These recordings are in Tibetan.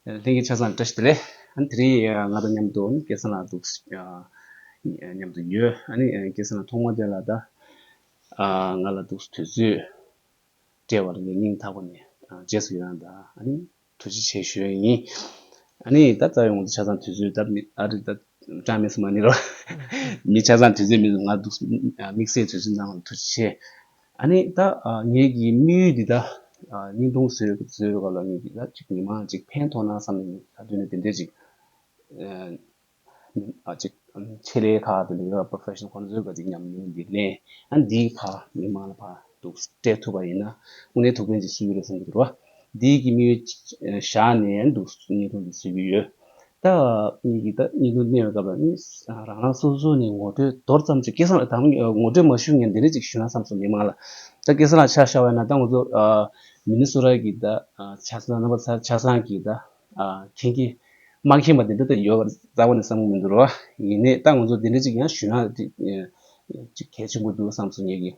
ལྷན་གྱི་ཆ་ཚང་བཀྲ་ཤིས་བདེ་ལེགས། དེ་རིང་ང་དང་མཉམ་དུ་སྐལ་བཟང་ལགས་འདུག་མཉམ་དུ་ཡོད། སྐལ་བཟང་ལགས་ཐོག་མར་དེ་ལ་ད་ང་ལ་འདུག་དུས་ཚོད་སྤྲད་པར་ངེད་གཉིས་ཐག་པ་ནས་རྗེས་སུ་ཡི་རང་དང་ཐུགས་རྗེ་ཆེ་ཞུས་ཡིན། ད་རྩ་བའི་ངོ་ཚ་ཆ་ཚང་དུས་ཚོད་ཨ་རིར་ད་ཀྲང་མེད་ས་མ་ནི་རོ། མི་ཆ་ཚང་དུས་ཚོད་མེད་ང་འདུག་དམིགས་བསལ་དུས་ཚོད་གནང་བར་ཐུགས་རྗེ་ཆེ། ཨ་ནི་ད་ངེད་ཀྱི་དམིགས་ཡུལ་འདི་དག་སྙིང་ཐུང་བཟོས་པའི་སྐབས་ལ་ངེད་ཀྱིས་ད་ཅིག་མི་མང་ཅིག་ཕན་ཐོགས་ན་བསམ་ནས་ངེད་ད་དུས་ནས་དེ་འདྲའི་ཅིག་ཅིག་ཆེད་ལས་ཁག་དེ་འདྲའི་ཁག Professional ཁོ་ན་བཟོས་དགོས་ཅིག་སྙམ་ནས་འདི་གླེང་ཨ་ནི་འདིའི་ཁག་མི་མང་ལ་ཕར་འདུག་སྤྲད་ཐུབ་པ་ཡིན་ན་དངོས་གནས་ཐུགས་ཕན་གྱི་སྲོལ་ཡོད་རེད་བསམ་གྱི་འདུག་རོ། འདི་ཡི་གིས་མི་ཡུལ་བཞག་ནས་ནི་འདུག་སྙིང་ཐུང་དུ་ཟེར་གྱི་ཡོད། ད་ངེད་ཀྱིས་ད་སྙིང་ཐུང་གནས་པའི་སྐབས་ལ་ནི་རང་རང་སོ་སོ་ནས་ངོ་སྤྲོད་མདོར་ཙམ་ཅིག་སྐལ་བཟང་ལགས་ད་ངོ་སྤྲོད་མ་ཞུ་ངས་འདི་འདྲ་ཅིག་ཞུ་ན་བསམས་སོང་མི་མང་ལ། ད་སྐལ་བཟང་ལགས་ཆ་ཤ་བས་ན་ད་ང་ཚོ་མི་ནི་སུ་ར་གི་ད་ཆ་ས་རྣམ་པ་ཚ་ཆ་བཟང་གི་ད་མཁྱེན་གྱི་མ་མཁྱེན་པ་འདི་འདྲ་ད་ཡོད་པར་རྩ་བ་ནས་བསམ་གྱི་མི་འདུག་ཡིན་ནས་ད་ང་ཚོ་འདི་འདྲ་ཅིག་ཡང་ཞུ་ན་ཅིག་གལ་ཆེན་པོ་འདུག་བསམས་སོང་ངེད་ཀྱིས།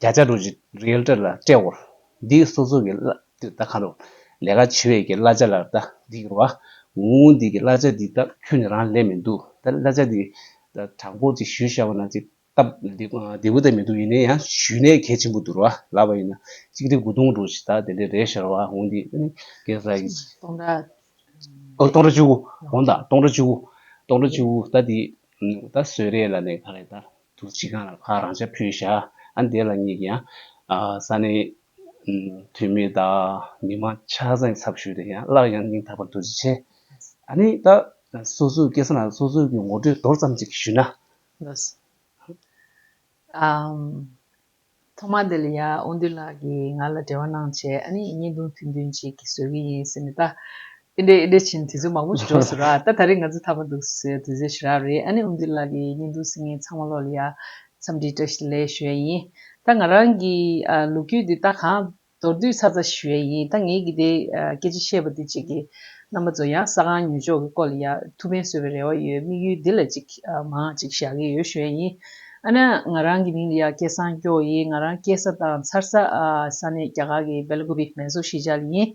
བརྒྱ་ཆ་རུ་རེལ་སྤྲད་ལ་སྤྲད་འོར། འདི་སོ་སོ་གི་བླ་འདི་ལྟ་ཁ་རུ། ལས་ཀ་བྱེད་བས་ཀྱི་བླ་བྱ་ལ་ལྟ་འདི་གྱུར་བ། ངོ་བོ་འདི་གི་བླ་བྱ་འདི་ལྟ་ཁྱོད་ནི་རང་ལས་མི་འདུག་ད་བླ་བྱ་འདི། དྲང་པོ་ཅིག་ཞུས་ཤ་བ་ན་ཅིག་སྟབས་བདེ་བོ་ལྟ་མི་འདུག་ཡིན་ན་ཡང་ཞུས་ནས་གལ་ཆེན་པོ་འདུག་ར་ལབ་པ་ཡིན་ན་གཅིག་དེ་དགུ་སྟོང་དྲུག་ཅིག་ད་དེ་འདྲས་རེད་ཤོར་བ་འོང་འདི་ནི་གེ་སར་གྱི། སྟོང་ར། ཨོ་སྟོང་ར་བཅུ་དགུ་འོང་ད་སྟོང་ར་བཅུ་དགུ་སྟོང་ར་བཅུ་དགུ་ད་འདི་ད་བཟོས་རེད་ལ་ནས་ག་རེ་ད། དུ་ཕྱི་གང་ལ་ཕར་རང་ཆ་ཕུད་བཞག་ཨ་འདས་ལ་གཉིས་ཀྱང་ས་གནས་འཐུས་མི་དང་མི་མང་ཆ་ཚང་གི་ཚབ་ཞུས་ཏེ་ཡང་སླར་ཡང་སྙིང་ཐག་པ་འདོན་རྩིས་བྱས། ཨ་ནི་ད་སོ་སོའི་སྐད་གསང་ལ་སོ་སོའི་གི་ངོ་སྤྲོད་མདོར་ཙམ་ཅིག་ཞུས་ན། ཐོག་མ་དེ་ལ་ཡ་ཨོ་འདུས་ལགས་ཀྱིས་ང་ལ་འབྲེལ་བ་གནང་བྱས་ཨ་ནི་བརྙན་ཐུང་ཐུང་ཐུང་ཅིག་གིས་བཟོས་ཀྱི་ཡིན་ཟེར་ནས་ད་ཨེ་འདྲེ་ཨེ་འདྲེ་བྱས་ནས་དུས་ཚོད་མང་པོ་ཞིག་འགྲོ་ཟེར་རོ་ད་ད་རེས་ང་ཚོ་ཐར་པ་འདུག་ཟེར་དུས་ཚོད་ཞེ་རགས་རེད་ཨ་ནི་ཨོ་འདུས་ལགས་ཀྱིས་བརྙན་ཐུང་ཟིན་ངས་ཚང་མ་ཀློག་ལ་ཡ་འཚམས་འདྲི་བཀྲ་ཤིས་ལེགས་ཞུ་ཡ་ཡིན་ད་ང་རང་གིས་ལོ་རྒྱུས་འདི་ལྟ་གང་མདོར་བསྡུས་ཚར་ཚ་ཞུ་ཡས་ཡིན་ད་ངེད་ཀྱི་དེ་སྐད་ཅིག་བཤད་པ་འདི་གཅིག་གིས་རྣམ་པ་ཚོ་ཡང་ས་གང་ཉོས་ཆོག་གི་སྐོར་ལ་ཡ་ཐུགས་ཕན་གསོས་པའི་རེ་བ་ཡོད་དམིགས་ཡུལ་འདི་ལ་གཅིག་མང་གཅིག་བཞག་གི་ཡོད་ཞུ་ཡས་ཡིན་ཨ་ན་ང་རང་གི་མིང་ལ་ཡ་སྐད་བཟང་སྐྱོ་ཡིན་ང་རང་སྐྱེས་ས་དང་འཚར་ས་ས་གནས་རྒྱ་གར་གྱི་བེལ་གོ་བི་མེན་སོ་ཤི་ཇཱལ་ཡིན་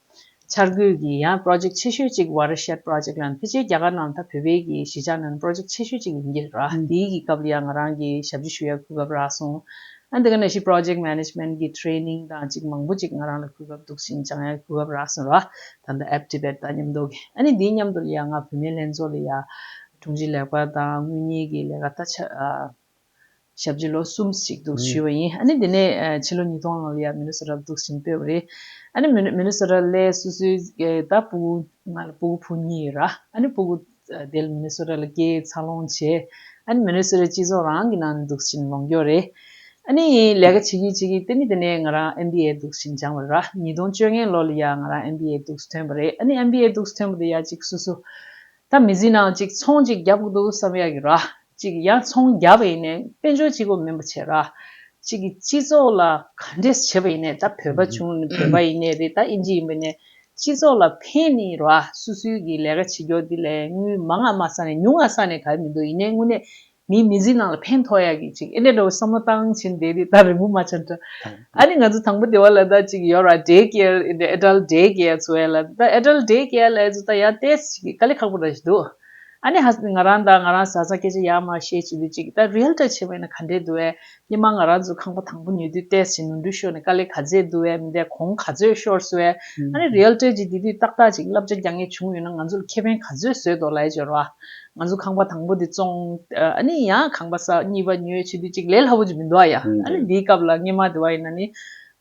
འཆར་འགོད་ཀྱི་ཡ Project ཆེ་ཤོས་གཅིག Watershed Project ལ་འཕེལ་རྒྱས་རྒྱ་གར་ནང་ད་བོད་བེད་ཀྱི་གཞིས་ཆགས་ནང Project ཆེ་ཤོས་གཅིག་ཡིན་གྱི་རག་དེའི་གི་སྐབས་ལ་ཡ་ང་རང་གི་ཞབས་ཞུ་ཞུ་ཡ་ཁུར་སྐབས་རག་སོང་ཨ་འདི་ག་ནས་ཤི Project Management གི Training དང་གཅིག་མང་པོ་གཅིག་ང་རང་ལ་ཁུར་སྐབས་འདུག་ཤིང་ཅང་ཡ་ཁུར་སྐབས་རག་སོང་རག་ད་ད App Tibet དང་མཉམ་འདོགས་གི་ཨ་ནི་དེའི་མཉམ་དུ་ལ་ཡ་ང་བུད་མེད་ལྷན་ཚོགས་ལ་ཡ་དྲུང་ཆེ་ལེགས་པ་དང་དངུལ་གཉེར་གི་ལས་ཀ་ད་ཆ་ཞབས་རྗེས་ལོ་གསུམ་ཞིག་འདུག་ཞུས་བ་ཡིན། ཨ་ནི་དེ་ནས་ཕྱི་ལོ་ཉིས་སྟོང་ལྔ་ལོ་ཡར་མི་ལོ་སོ་རབ་འདུག་བཞིན་བོས་པ་རེད། ཨ་ནི་མི་ལོ་སོ་ར་ལས་སུ་སུའི་ད་སྤུ་གུ། ང་ལ་སྤུ་གུ་བུ་གཉིས་ཡོད་ར། ཨ་ནི་སྤུ་གུ་དེལ་མི་ལོ་སོ་ར་ལ་སྐྱེས་འཚར་ལོངས་བྱས། ཨ་ནི་མི་ལོ་སོ་རའི་སྤྱི་ཚོགས་རང་གི་ནང་ནས་འདུག་བཞིན་ལོངས་སྐྱོར་རེད། ཨ་ནི་ལས་ཀ་བྱེད་ཀྱིན་བྱེད་ཀྱིན་ཏེ་ནི་དེ་ནས་ང་རང་ཨེམ་བྷི་ཨེ་འདུག་བཞིན་སྦྱངས་བ་ར། ཉིས་སྟོང་བཅོ་ལྔའི་ལོ་ལ་ཡར་ང་རང་ཨེམ་བྷི་ཨེ་འདུག་སུ་ཐོན་པ་རེད། ཨ་ནི་ཨེམ་བྷི་ཨེ་འདུག་སུ་ཐོན་པ་དེ་ཡར་གཅིག་སུ་སུ། ད་མི་ཟིན་ནའང་ཅིག་ཚོང་ཅིག་རྒྱབ་ཀི་འདུག་བསམ་ཡག་གི་ར། ཅིག་ཡང་ཚོང་རྒྱབ་པ་ཡིན་ནས་དཔལ་འབྱོར་སྤྱི་ཁོག་མིན་པ་བྱས་ར། ཅིག་གི་སྤྱི་ཚོགས་ལ་ག་འདྲས་བྱས་པ་ཡིན་ནས་ད་བོད་པ་བྱུང་ནས་བོད་པ་ཡིན་ནས་རེད་ད་ཨིན་ཇི་ཡིན་པ་ནས་སྤྱི་ཚོགས་ལ་ཕན་ནི་ར་སུ་སུའི་གི་ལས་ཀ་བྱེད་རྒྱོག་འདི་ལས་དངུལ་མང་ང་མ་ས་ནས་ཉུང་ང་ས་ནས་ག་ཡི་མི་འདུག་ཡིན་ནས་དངུལ་ནས་མིའི་མི་ཚེའི་ནང་ལ་ཕན་ཐོགས་ཡག་གི་ཅིག་ཨེ་རེད་འདྲ་བོ་བསམ་བློ་བཏང་བྱིན་བསྡད་དེ་ད་རིང་པོ་མ་ཆགས་འདྲ། ཨ་ནི་ང་ཚོ་དང་པོ་སྡེ་བ་ལ་ད་ཅིག་ཡོད་ར Day Care ཨེ་འདྲ Adult Day Care ཚོ་ཡ་ལ་ད Adult Day Care ལ་ཨེ་ཚོ་ད་ཡ་ལྟས་ཅིག་དཀའ་ལས་ཁག་པོ་ར་ཞིག་འདུག་ཨ་ནི་ཧ་སི་ནི་ང་རང་ད་ང་རང་བཟའ་ཚང་སྐད་ཆ་ཡག་མ་བཤད་ཅིག་འདུག་ཅིག་ད Real དྲ་ཆེན་པོ་ཡིན་ན་ག་འདྲས་འདུག་ཨེ་ཀྱེ་མ་ང་རང་ཚོའི་ཁང་པ་དང་པོ་ཉོས་དུས་ལྟས་ཟིན་ནོར་འཁྲུལ་ཤོར་ནས་དཀའ་ལས་ག་ཚད་བསྡུ་བས་མི་འདས་གོང་ག་ཚོད་ཤོར་ཟེར་བས། ཨ་རེ་རེད་སྤྲོད་ཅིག་དེ་དུས་ཏག་ཏག་ཅིག་བསླབ་བྱ་རྒྱག་ངེས་བྱུང་ཡོད་ན་ང་ཚོར་ཁེ་ཕན་ག་ཚོད་བཟོས་འདོག་ལའི་སྦྱོར་བ། ང་ཚོ་ཁང་པ་དང་པོ་དེ་བཙོང། ཨ་ནི་ཡང་ཁང་པ་ས་གཉིས་པ་ཉོས་ཕྱི་དུས་གཅིག་ལས་སླ་བོ་ཅིག་མི་འདུག་ཨ་ཡ། ཨ་རེ་འདིའི་སྐབས་ལ་སྔེ་མ་དེ་བ་ཡིན་ན་ནི།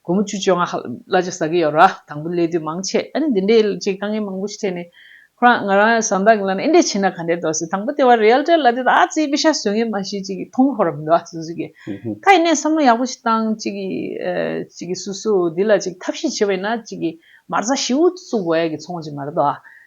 དགོང་མོ་བཅུ་བཅོ་ལྔ་ཧ་ལ་ཅི་ཟ་གི་ཡོད་ར་དང་པོ་ལས་དུས་མང་ཆེ་ཨ་ནི་འདི་འདྲའི་ལ་ཅིག་དཀའ་ངལ་མང་པོ་ཞིག་འཕྲད་ནས་ཁོ་རང་ང་རང་བཟའ་ཟླ་གི་ལ་ནས་ཨེ་འདྲས་བྱས་ན་ག་འདྲས་འདོག་ཟེར་དང་པོ་དེ་བ་རེ་ཨལ་ཏྲའི་ལ་དེ་ད་ཨ་ཙིའི་པི་ཤ་ཟོས་ངན་མ་ཞིག་ཅིག་གིས་ཐོང་ཧོར་རམ་འདོད་ཨ་ཙི་ཟོས་ཀྱི་ད་ཡིན་ནས་བསམ་བློ་ཡག་པོ་ཞིག་བཏང་ཅིག་ཅིག་གིས་སུ་སུ་འདི་ལ་ཅིག་ཐབས་ཤེས་བྱེད་པ་ཡིན་ན་ཅིག་གིས་མར་བཟའ་ཞིའུ་བཙུགས་བས་ཀྱི་ཚོང་ཅིག་མར་འདོག་ཨ་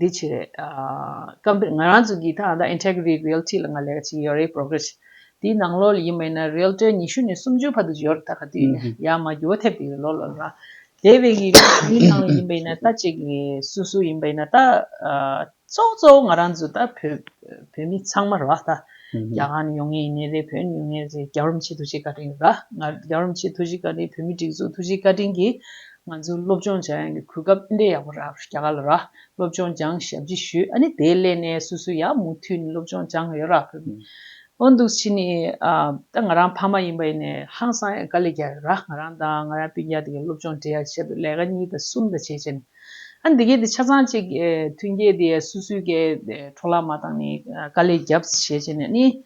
དེའི་ཕྱིར། སྐབས་འདིར་ང་རང་ཚོས་གི་ཐ་ད Integrity Realty ལ་ང་ལས་ཀ་ཅིག་ཡོད་རེད Progress དེའི་ནང་ལོ་ལ་ཡིན་མ་ཡིན་ན་རེལ་གྲའི་ཉི་ཤུ་ནས་སུམ་ཅུའི་བར་དུ་ཡོད་རེད་ད་ག་དུས་ཡིན་ན་ཡར་མར་འགྱུར་བ་ཐེབས་ཀྱི་ཡོད་ལོ་ལ་ལ་དེ་བས་གི་དེའི་ནང་ལ་ཡིན་པ་ཡིན་ན་ད་ཅིག་སུ་སུ་ཡིན་པ་ཡིན་ན་ད་གཙོ་གཙོ་བོ་ང་རང་ཚོ་ད་བོད་མི་ཚང་མ་རེད་བ་ད་རྒྱ་གར་ནས་ཡོང་ངེས་ཡིན་ངེས་རེད་བོད་ནས་ཡོང་ངེས་རེད་རྒྱ་རོམ་ཕྱི་ཐུགས་རྗེ་བཀའ་དྲིན་རེད་ད་ང་རྒྱ་རོམ་ཕྱི་ཐུགས་རྗེ་བཀའ་དྲིན་བོད་མི་སྒྲིག་འཛུགས་ཐུགས་རྗེ་བཀའ་དྲིན་གི་ང་ཚོས་སློབ་སྦྱོང་སྦྱང་ཡང་གི་གུས་སྐབས་ཨིན་དྲའི་ཡག་པོ་རག་རྒྱ་གར་ལ་རག་སློབ་སྦྱོང་སྦྱང་ཞབས་ཕྱི་ཞུ་ཨ་ནི་དེའི་སླད་ནས་སུ་སུ་ཡག་མུ་འཐུད་ནས་སློབ་སྦྱོང་སྦྱང་ཡོད་རག་གི་འོ་འདུག་ཕྱི་ནི་ད་ང་རང་ཕ་མ་ཡིན་པ་ཡིན་ནས་ཧང་སང་ཡང་དཀའ་ལས་རྒྱག་ཡོད་རག་ང་རང་དང་ང་རང་སྤུན་རྒྱག་དེ་གའི་སློབ་སྦྱོང་འབྲེལ་ཡག་ཆེད་དུ་ལས་ཀ་གཉིས་དང་གསུམ་དང་བྱས་བྱས་ནས་ཨ་ནི་དེ་གའི་དེ་ཆ་ཚང་གཅིག་མཐུན་རྒྱས་དེ་སུ་སུའི་གའི་འཕྲོ་བརླག་མ་བཏང་ནས་དཀའ་ལས་རྒྱབ་བྱས་བྱས་ནས་ཨ་ནི།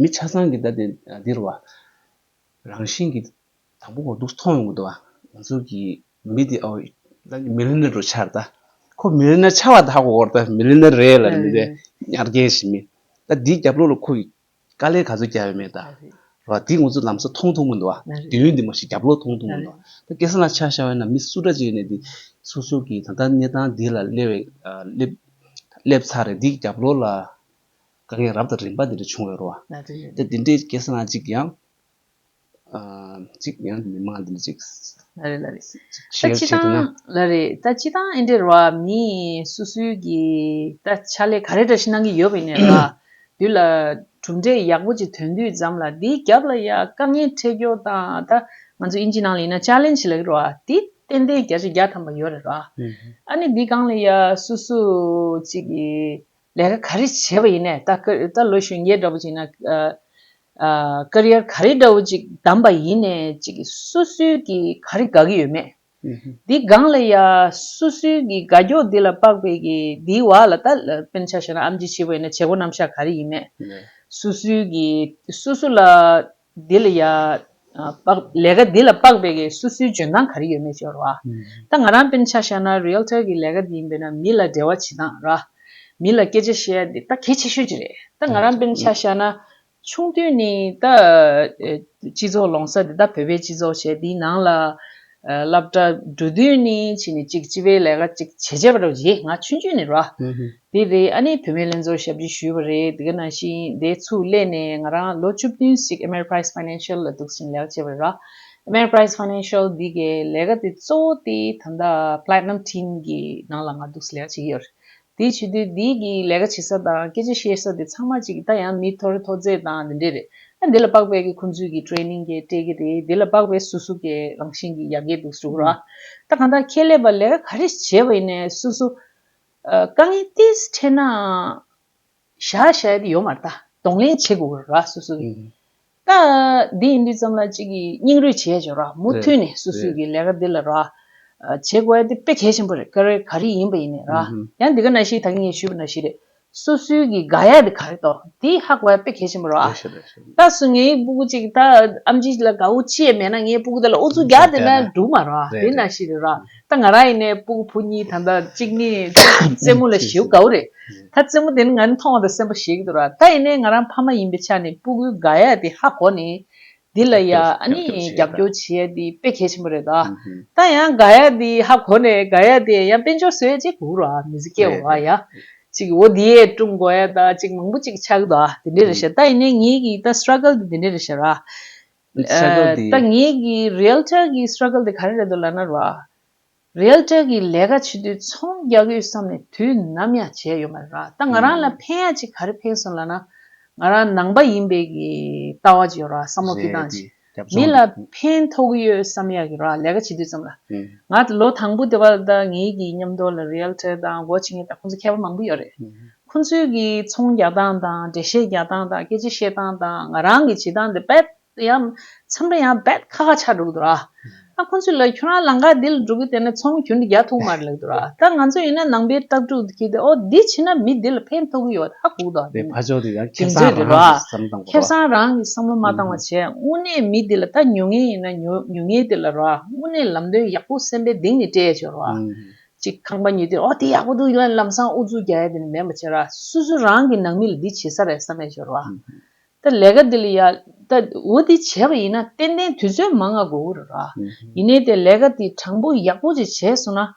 མི་ཆ་ཚང་གིས་ད་ལྟའི་འདིར་བ། རང་བཞིན་གྱིས་དང་པོ་བ་འདུག་མཐོང་ཡོང་གི་འདུག་བ། ང་ཚོ་གི་མི་དེ་ཨོ། ད་ནི་མི་ལི་ནི་རུ་ཆར་ལྟ། ཁོ་མི་ལི་ནི་ཆ་བ་དག་གོ་ད་མི་ལི་ནི་རེད་ལ་མི་རེད་ཉར་རྒྱལ་བྱེད་མི། ད་འདིའི་རྒྱབ་ལོགས་ལ་ཁོ་གི་དཀའ་ལས་ག་ཚོད་རྒྱབ་ཡོད་མེད་ད། རེད་བ། འདི་ང་ཚོ་ལམ་སང་མཐོང་ཐུབ་མི་འདུག་བ། དུས་ཡུན་འདི་མ་ཤི་རྒྱབ་ལོགས་མཐོང་ཐུབ་མི་འདུག་བ། ད་སྐད་གསང་ལ་ཆ་བཞག་ཡོད་ན་མི་སུ་འདྲ་ཅིག་ཡོད་ནས་འདི། སོ་སོ་གི་ད་ལྟ་གནས་སྟངས་འདི་ལ་སླེབས། སླེབས་ཚར་རེད་འདིའི་རྒྱབ་ལོགས་ལ། དཀའ་ངལ་རབ་དང་རིམ་པ་འདི་འདྲ་བྱུང་བའི་རོ། དེ་འདི་འདྲའི་སྐྱེ་སངས་ཅིག་ཡང། ཅིག་ཡང་མི་མངའ་འདི་འདྲ་ཅིག། ལ་རེ་ལ་རེ། ཞེས་བྱས་འདོད་ན། ལ་རེ། ད་ཅི་སྟངས་ཨེ་འདྲའི་རོ། མི་སུ་སུའི་གི། ད་ཕྱག་ལས་ག་རེ་འདྲ་ཞིག་གནང་གི་ཡོད་པའི་ནས་ར། དུས་ལ། གྲུབ་འབྲས་ཡག་པོ་ཅིག་ཐོན་དུས་ཙམ་ལ་འདིའི་རྒྱབ་ལ་ཡང་དཀའ་ངལ་འཕྲད་སྐྱོ་དང་ད། ང་ཚོ་དབྱིན་ཇི་ནང་ལ་ཡིན་ན་ཕྱག་ལེན་བྱེད་ལ་གི་རོ། དེ་ཏན་ཏན་བརྒྱ་ཆ་བརྒྱ་ཐམ་པ་ཡོད་རེ་ར། ཨ་ནི་འདི་སྒང་ལ་ཡང་སུ་སུ་ཅིག་གི། ལས་ཀ་ག་རེ་བྱས་པ་ཡིན་ནས་ད་ལོ་གཞོན་སྐྱེས་འདྲ་པོ་ཅིག་ན Career ག་རེ་འདྲ་བོ་ཅིག་བདམས་པ་ཡིན་ནས་ཅིག་སུ་སུའི་གི་ག་རེ་དགའ་གི་ཡོད་མེད་འདི་སྒང་ལ་ཡ་སུ་སུའི་གི་དགའ་སྐྱོ་འདི་ལ་དཔག་པའི་གི་འདིའི་བ་ལ་ད་སྤེན་ཆ་བྱས་ན་ཨམ་ཅི་བྱས་པ་ཡིན་ན་བྱེད་སྒོ་རྣམ་བཞག་ག་རེ་ཡིན་མེད་སུ་སུའི་གི་སུ་སུ་ལ་འདི་ལ་ཡལ། ལས་ཀ་འདི་ལ་དཔག་པའི་གེགས་སོ་སོའི་འཇོན་ཐང་ག་རེ་ཡོད་མེད་སྦྱོར་བ། ད་ང་རང་སྤེན་ཆ་བཤགས་ན Realtor གི་ལས་ཀ་འདི་ཡིན་པས་ན་མི་ལ་འབྲེལ་བ་བྱེད་སྟངས་ར། མི་ལ་སྐད་ཆ་བཤད་ཡ་འདི་ད་གལ་ཆེ་ཤོས་ཅིག་རེད། ད་ང་རང་སྤེན་ཆ་བཤགས་ན། ཆུང་དུས་ནས་ད། སྤྱི་ཚོགས་ལོང་ས་འདི་ད་བོད་པའི་སྤྱི་ཚོགས་བྱས་འདིའི་ནང་ལ། སླབ་གྲ་འགྲོ་དུས་ནས་ཕྱིན་ནས་ཅིག་སྤྱི་པའི་ལས་ཀ་ཅིག་བྱས་བྱས་པ་རེད་ང་ཆུང་དུས་ནས་ར། དེ་རེད་ཨ་ནེ་བུད་མེད་ལྷན་ཚོགས་ཞབས་ཕྱི་ཞུས་པ་རེད་དགེ་ན་ཤིང་དེ་ཚུགས་སླད་ནས་ང་རང་ལོ་བཅུ་བདུན་ཞིག Ameriprise Financial ལ་འདུག་ཟིང་ལག་བྱས་པ་ར Ameriprise Financial འདི་གའི་ལས་ཀ་དེ་གཙོ་བོ་དེ་ད་ལྟ Platinum Team གི་ནང་ལ་ང་འདུག་ཟིང་ལག་བྱེད་ཀྱི་ཡོད་རེད་དེ་བྱེད་དུས་འདི་གའི་ལས་ཀ་བྱེད་ས་དང་སྐད་ཆ་བཤད་ས་དེ་ཚང་མ་གཅིག་གི་ད་ཡང་མི་ཐོ་རེ་ཐོ་རྫས་དང་དེ་འདྲས་རེད་ཨ་འདི་ལ་དཔག་པའི་གི་ཁོང་ཚོས་གི Training གི་སྤྲད་གི་རེད་དེ་ལ་དཔག་པའི་སུ་སུ་གི་རང་བཞིན་གི་ཡ་གི་འདུག་ཟུག་ར་ད་གང་ལྟར་ཁྱེད་ལས་པ་ལས་ཀ་ག་རེ་བྱས་པ་ཡིན་ནས་སུ་སུ་དཀའ་ངལ་ཏིས་འཕྲད་ནའང། བཞག་བཞག་དེ་ཡོད་མ་རྟ། གདོང་ལེན་བྱེད་དགོས་ར་སུ་སུ་གི། ཀ། འདི་ཡིན་དུས་ཙམ་ལ་གཅིག་གིས་སྙིང་རུས་བྱེད་བྱོས་ར་མུ་མཐུད་ནས་སུ་སུ་གི་ལས་ཀ་འདི་ལ་ར། བྱེད་དགོས་ཨ་དེ་དཔེ་གལ་ཆེན་པོ་རེད་ཀ་རེ་ག་རེ་ཡིན་པ་ཡིན་ནས་ར། ཡང་འདི་ག་ན་ཤི་ད་གིན་ངས་ཞུས་པ་ན་ཤི་རེད། སུ་སུ་གི་ག་ཡ་དེ་ག་རེ་ཏོ་དེ་ཧ་གོ་ཡ་དཔེ་གལ་ཆེན་པོ་ར། ད་སུ་ངའི་སྤུ་གུ་གཅིག་ད་ཨམ་ཅིག་ལ་གའུ་ཅི་ཡ་མེད་ན་ངའི་སྤུ་གུ་དེ་ལ་ཨུ་ཚུགས་རྒྱག་དེ་ན་འགྲུག་མ་ར་དེ་ན་ཤི་རེད་ར། ད་ང་རང་ཡིན་ནའི་སྤུ་གུ་བུ་གཉིས་ད་ལྟ་གཅིག་ནི་རྩེད་མོ་ལ་ཞེའུ་དགའ་བོ་རེད། ད་རྩེད་མོ་དེ་ནི་ང་ནི་མཐོང་བ་དང་སེམས་པ་ཞེ་གི་འདུག་ར་ད་ཡིན་ནའི་ང་རང་ཕ་མ་ཡིན་པའི་ཆ་ནས་སྤུ་གུའི་དགའ་ཡ་དེ་ཧ་གོ་ནས་འདི་ལ་ཡ་ཨ་ནི་རྒྱབ་སྐྱོར་བྱེད་ཡ་དེ་དཔེ་གལ་ཆེན་པོ་རེད་ད། ད་ཡང་དགའ་ཡ་དེ་ཧ་གོ་ནས་དགའ་ཡ་དེ་ཡང་དཔེ་འཇོག་བཟོ་ཡ་གཅིག་གུག་རོགས་ཨ་མི་ཚེ་སྐྱེ་བ་བ་ཡ་གཅིག་འོ་དེ་ཡས་ཀྲུང་གོ་ཡ་ད་གཅིག་མང་པོ་གཅིག་ཆག་གི་འདུག་ཨ་དེ་འདྲས་རེད་ཤག་ད་ཡིན་ནའི་ངེད་ཀྱི་ད struggle དེ་འདྲས་རེད་ཤག་ར། Struggle དེ། ད་ངེད་ཀྱི Realtor གྱི Struggle དེ་ག་རེ་རེད་འདུག་ལབ་ན་རོགས་ཨ། Realtor གྱི་ལས་ཀ་བྱེད་དུས་ཚོང་རྒྱག་དགོས་བསམ་ནས་དུས་ནམ་ཡང་བྱས་ཡོད་མ་རེད་རོགས་ཨ། ད་ང་རང་ལ་ཕན་ཡག་ཅིག་ག་རེ་ཕན་སོང་ལབ་ན། ང་རང་ནང་པ་ཡིན་པའི་གི་ལྟ་བ་ཅིག་ཡོད་རོགས་ཨ་བསམ་བློ་ཕིགས་སྟངས་ཅིག། མི་ལ་ཕན་ཐོག་གི་ཡོད་བསམ་ཡག་གི་རོགས་ཨ་ལས་ཀ་བྱེད་དུས་ཙམ་ལ། ང་ལོ་དང་པོ་དེ་བ་ད་ངེད་ཀྱི་མཉམ་དུ་ལ Realtor དང་སྒོ་ཕྱེ་མཁན་ད་ཁོང་ཚོ་མཁས་པ་མང་པོ་ཡོད་རེད། ཁོ་ཚོའི་གིས་ཚོང་རྒྱག་སྟངས་དང་འགྲེལ་བཤད་རྒྱག་སྟངས་དང་སྐད་ཆ་བཤད་སྟངས་དང་ང་རང་གིས་བྱེད་སྟངས་དེ་རྦད་ཡང་འཚམས་རེ་ཡང་རྦད་ཁ་ཁ་ཆགས་འགྲོ་གི་འདུག་ར། ཁོ་ཚོས་ལ་ཁྱོད་རང་ལང་ཀ་འདི་ལ་འགྲོ་གི་དེ་ནས་ཚོང་གྱོན་དེ་རྒྱག་ཐུག་མ་རེད་ལབ་འདུག་ར་ད་ང་ཚོ་ཡིན་ན་ནང་པའི་སྟབས་ཀྲུག་གིས་དེ་ཨོ་འདི་བྱས་ན་མི་འདི་ལ་ཕན་ཐོག་གི་ཡོད་ད་གུག་དང། བས་ཕ་ཆོག་དེ་ཡང་ཁེབས་སང་རང་གིས་བསམ་བཏང་བ་ར། ཁེབས་སང་རང་གིས་བསམ་བློ་མ་བཏང་བ་བྱས་དངོས་གནས་མི་འདི་ལ་ད་ཉོ་ངེས་ཡིན་ན་ཉོ་ངེས་དེ་ལ་ར་དངོས་གནས་ལམ་སྟོན་ཡག་པོ་སེམས་པའི་གདེང་ནས་སྤྲད་ཆོག་ར། ཅིག་ཁང་པ་ཉུལ་དུས་ཨོ་དེ་ཡག་པོ་འདུག་ཡོན་ལམ་སང་ཨུ་ཚུགས་རྒྱག་ཡ་དེ་ནི་མེད་མ་བྱེད་རོགས་སུ་སུ་རང་གི་ནང་མི་ལ་འདི་བྱེད་ས་རེད་བསམ་ཡ་ཤོར་བ་ད་ལས་ཀ་འདི་ལ་ཡ་ད་འུ་འདི་བྱེད་པ་ཡིན་ན་ཏན་ཏན་དུས་ཚོད་མང་ང་དགོས་གི་རེད་རོགས་ཡིན་ནའི་དེ་ལས་ཀ་དེ་དྲང་པོ་ཡག་པོ་ཅིག་བྱས་སོང་ན།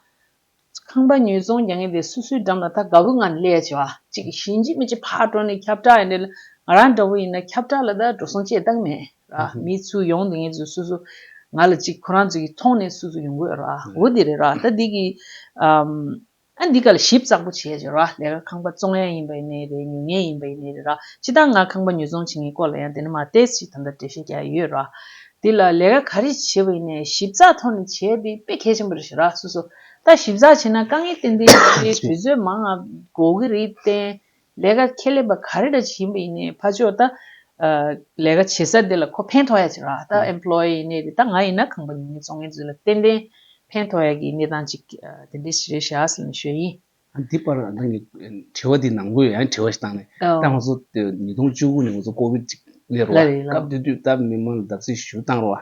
ཁང་པ་ཉུལ་ཙོང་རྒྱག་ངེས་དེ་སུ་སུའི་འགྲམ་ལ་ད་དགའ་བོ་ང་ནི་ལས་བྱེད་བ་ཅིག་གི་གཞིས་མཆི་མི་ཅིག་ཕར་འགྲོ་ནས་ཁྱབ་བསྒྲགས་ཡིན་དེ་ལ་ང་རང་འདྲ་བོ་ཡིན་ན་ཁྱབ་བསྒྲགས་ལ་ད་འགྲོ་སོང་ཅེས་བཏགས་མེད། རག་མི་ཚུ་ཡོང་དེ་ངེད་ཚོ་སུ་སུ། ང་ལ་གཅིག་ཁོ་རང་ཚོ་ཡིས་མཐོང་ནས་སུ་སུ་ཡོང་དགོས་རག་འོ་དེ་རེད་རག་ད་འདི་གིས། ཨ་འདི་ག་ལ་ཞིབ་ཙག་པོ་བྱས་རེད་རག་ལས་ཀ་ཁང་པ་བཙོང་ཡ་ཡིན་པ་ཡིན་ནའི་རེད་ཉོ་ངེས་ཡིན་པ་ཡིན་ནའི་རེད་རག་ཕྱི་ལྟར་ང་ཁང་པ་ཉོ་བཙོང་བྱེད་ངེས་སྐོར་ལ་ཡང་དེ་ནས་མ་ཏེས་ཞིག་ད་ལྟ་འབྲེལ་བཤད་རྒྱག་ཡོད་རག་འདི་ལ་ལས་ཀ་ག་རེ་བྱེད་པ་ཡིན་ནའི་ཞིབ་ཙག་ཐོག་ནས་བྱས་འདི་དཔེ་གལ་ཆེན་པོ་རེད་ཞེས་རག་སུ་སུ། ད་ཞིབ་ཚག་བྱས་ན་དཀའ་ངལ་ཏན་ཏན་ཡོད་རེད་དུས་ཚོད་མང་ང་དགོས་ཀྱི་རེད་བརྟེན་ལས་ཀ་ཁས་ལེན་པ་ག་རེ་འདྲ་བྱེད་ཡིན་པ་ཡིན་ནའི་ཕ་ཆོས་ད། ལས་ཀ་བྱེད་ས་འདི་ལ་ཁོ་ཕན་ཐོགས་ཡ་ཅིག་རག་ད employee ཡིན་ནའི་དེ་ད་ང་ཡིན་ན་ཁང་པ་ཉུང་ཉུང་བཙོང་མཁན་ཚོའི་ལ་ཏན་ཏན་ཕན་ཐོགས་ཡ་གི་གནས་སྟངས་ཅིག་དེ་འདྲའི་ཞེ་རེ་ཞྭ་ཟིལ་ནས་ཞོད་ཡིན། འདི་པར་ང་རང་གི་དྲི་བ་འདི་ནང་དགོས་ཡ་དྲི་བ་ཞིག་བཏང་ནས་ད་ང་ཚོ་ཉིས་སྟོང་བཅུ་དགུ་ནས་ང་ཚོ་ཀོ་བིད་ཅིག་ལས་རོ་བ་སྐབས་དེ་དུས་ད་མི་མང་ལ་བདག་གཟིགས་ཞུ་བཏང་རོ་བ།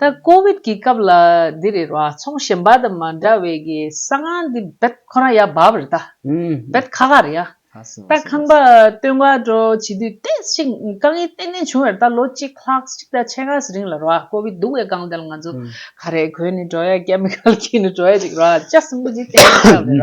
ད་ཀོ་བིད་ཀྱི་སྐབས་ལ་འདི་རེད་ར་ཚོང་གཞན་པ་དང་མ་འདྲ་བའི་གི་གསང་སྔགས་འདི་བེད་ཁོ་རང་ཡ་བབ་རེད་ད། བེད་ཁ་ཁ་རེད་ཡ། ད་ཁང་པ་སྟོན་དགའ་སྤྲོ་བྱེད་དུས་ལྟས་ཤིག་དཀའ་ངལ་གཏན་ནས་བྱུང་ཡར་ད་ལོ་གཅིག་ལྷག་ཅིག་ད་ཕྱེད་ངས་རིང་ལ་ར་ཀོ་བིད་སྡུག་བའི་སྒང་དེ་ལ་ང་ཚོ་ཁ་རས་གོན་ནས་འགྲོ་ཡ་ཀེ་མི་ཁལ་གྱིས་ནས་འགྲོ་ཡ་ཅིག་ར་ལྕགས་སྲིན་པོ་ཅིག་གཏན་ནས་ཆགས་རེད་ར།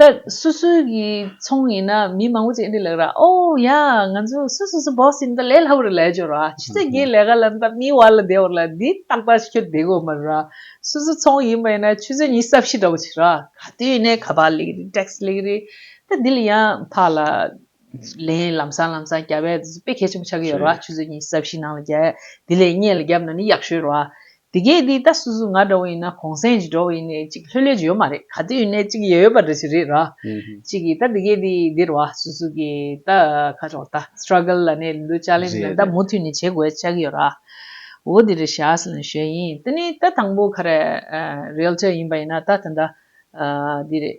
ད་སུ་སུ་གི་ཚོང་ཡིན་ན་མི་མང་པོ་ཅིག་འདི་ལགས་ར་ཨོ་ཡ་ང་ཚོ་སུ་སུ་སུ་བོགས་ཟིན་ད་ལས་སླ་བོ་རེད་ལས་སྦྱོར་ར་ཆུ་ཚད་བརྒྱའི་ལས་ཀ་ལམ་ད་མིའི་བར་ལ་བདེ་བོར་ལ་འདི་ཏག་ཏག་ཁྱོད་བདེ་དགོས་མ་རེད་ར་སུ་སུ་ཚོང་ཡིན་པ་ཡིན་ན་ཆུ་ཚོད་གཉིས་གསབ་བྱེད་འདྲ་པོ་བྱེད་ར། ག་དུས་ཡིན་ནའི་ག་པར་ལེགས་རེད tax ལེགས་རེད་ད་འདི་ལ་ཡང་ཕག་ལ་ལན་ལམ་སང་ལམ་སང་རྒྱ་བལ་དེ་ཚོ་དཔེ་གལ་ཆེན་པོ་ཆགས་ཀྱི་ཡོད་ར་ཆུ་ཚོད་གཉིས་གསབ་བྱེད་ནང་ལ་རྒྱ་དེ་ལས་གཉེས་ལ་རྒྱབ་ན་ནི་ཡག་ཤོས་ར་དེ་གས་འདི་ལྟ་སུ་སུ་ང་འདྲ་བོ་ཡིན་ན་གོང་སེང་ཇི་འདྲ་བོ་ཡིན་ནས་ཅིག་ལྷོད་ལྷོད་ཇི་ཡོད་མ་རེད་ག་དུས་ཡིན་ནས་ཅིག་ཡོད་ཡོད་པ་འདྲ་ཞིག་རེད་ར། ཅིག་གིས་ད་དེ་གས་འདི་འདིར་བ་སུ་སུ་གི་ད་ཁ་ཕྱོགས་ད Struggle ལ་གནས་འདུག Challenge ལ་ད་མུ་འཐུད་ནས་བྱེད་དགོས་ཆགས་ཀྱི་ཡོད་ར། འོ་དེ་རེད་བཞགས་ལ་ཞོད་ཡིན་དེ་ནི་ད་དང་པོ་ཁ་རས Realtor ཡིན་པ་ཡིན་ན་ད་ད་ད་འདི་རེད།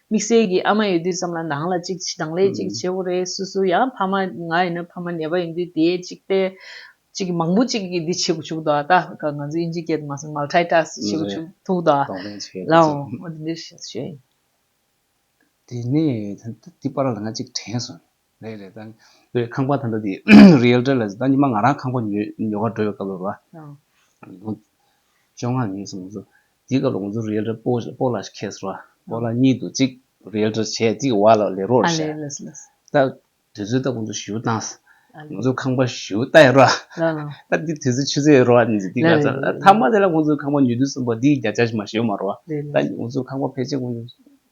དམིགས་བསལ་གྱིས་ཨ་མ་ཡོད་དུས་ཙམ་ལ་ནང་ལ་གཅིག་གདང་ལས་གཅིག་བྱེད་ཀོ་རེད་སུ་སུ་ཡང་ཕ་མ་ང་ཡིན་ན་ཕ་མ་ནད་པ་ཡིན་དུས་དེའི་གཅིག་བལྟས། གཅིག་མང་པོ་གཅིག་གིས་འདི་བྱེད་དགོས་བྱུག་དོ་ད་ང་ཚོ་དབྱིན་ཇི་སྐད་དུ་མ་གསུངས Multitask བྱེད་དགོས་བྱུག་ཐུག་དོ། གདོང་ལེན་བྱེད་དགོས་བྱུག། ལའོ། དེ་ནས་དེ་པར་ལ་ང་གཅིག་དྲན་སོང། རེད་རེད་ད། བའི་ཁང་པ་ད་ལྟ་དེ Realtor ལ་ཟེར་ད་ཉི་མ་ང་རང་ཁང་པ་ཉོས་ཉོ་གར་འགྲོ་བའི་སྐབས་ལ་རོ། བཅོ་ལྔ་ཉིན་སོང་ཚོ། དེའི་སྐབས་ལ་ང་ཚོ Realtor པོ་པོ་ལ་ཁེས་རོ། པོ་ལ་གཉིས་འདུག་གཅིག Realtor བྱས་གཅིག་བ་ལ་ལས་རོགས་བྱས། ད་དུས་ཚོད་ད་ཁོང་ཚོ་ཞུ་བཏངས། ང་ཚོ་ཁང་པ་ཞུ་བལྟ་ཡ་རོ། ད་དེ་དུས་ཚོད་ཆུ་ཚོད་རོ། དེ་ག་ཚོད་ད་མ་དེ་ལ་ཁོང་ཚོ་ཁང་པ་ཉོ་དུས་གསུངས་པ་དེའི་བརྒྱ་ཆ་ཞིག་མ་ཞུ་མ་རོ། ད་ང་ཚོ་ཁང་པ་ཕལ་ཆེར་ཁོང་ཚོ་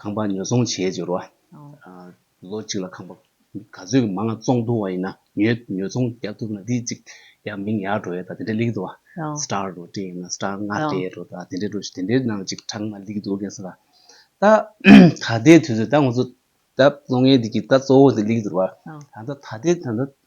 ཁང་པ་ཉོ་ཚོང་བྱེད་འཇུག་རོགས། ལོ་གཅིག་ལ་ཁང་པ་ག་ཚོད་ཀྱི་མ་ང་བཙོང་ཐུང་བ་ཡིན་ན་ཉོ་ཚོང་རྒྱག་ཐུབ་ན་དེ་གཅིག་ཡང་མིང་ཡག་འགྲོ་ཡོད་ད་དེ་འདྲ་ལེགས་འདུག་ཨ་སྟར་རོ་ཏྲི་ཡིན་ན་སྟར་ལྔ་སྤྲད་འགྲོ་ད་དེ་འདྲ་འགྲོ་དེ་འདྲའི་ནང་གཅིག་གྲགས་ན་ལེགས་འདུག་གས་ས་ད་ད་ལྟའི་དུས་ཚོད་ད་ང་ཚོ་ད་ལོ་ངའི་འདི་གི་ད་གཙོ་བོ་འདི་ལེགས་འདུག་རོགས་ད་ད་ལྟའི་ད་ལྟ་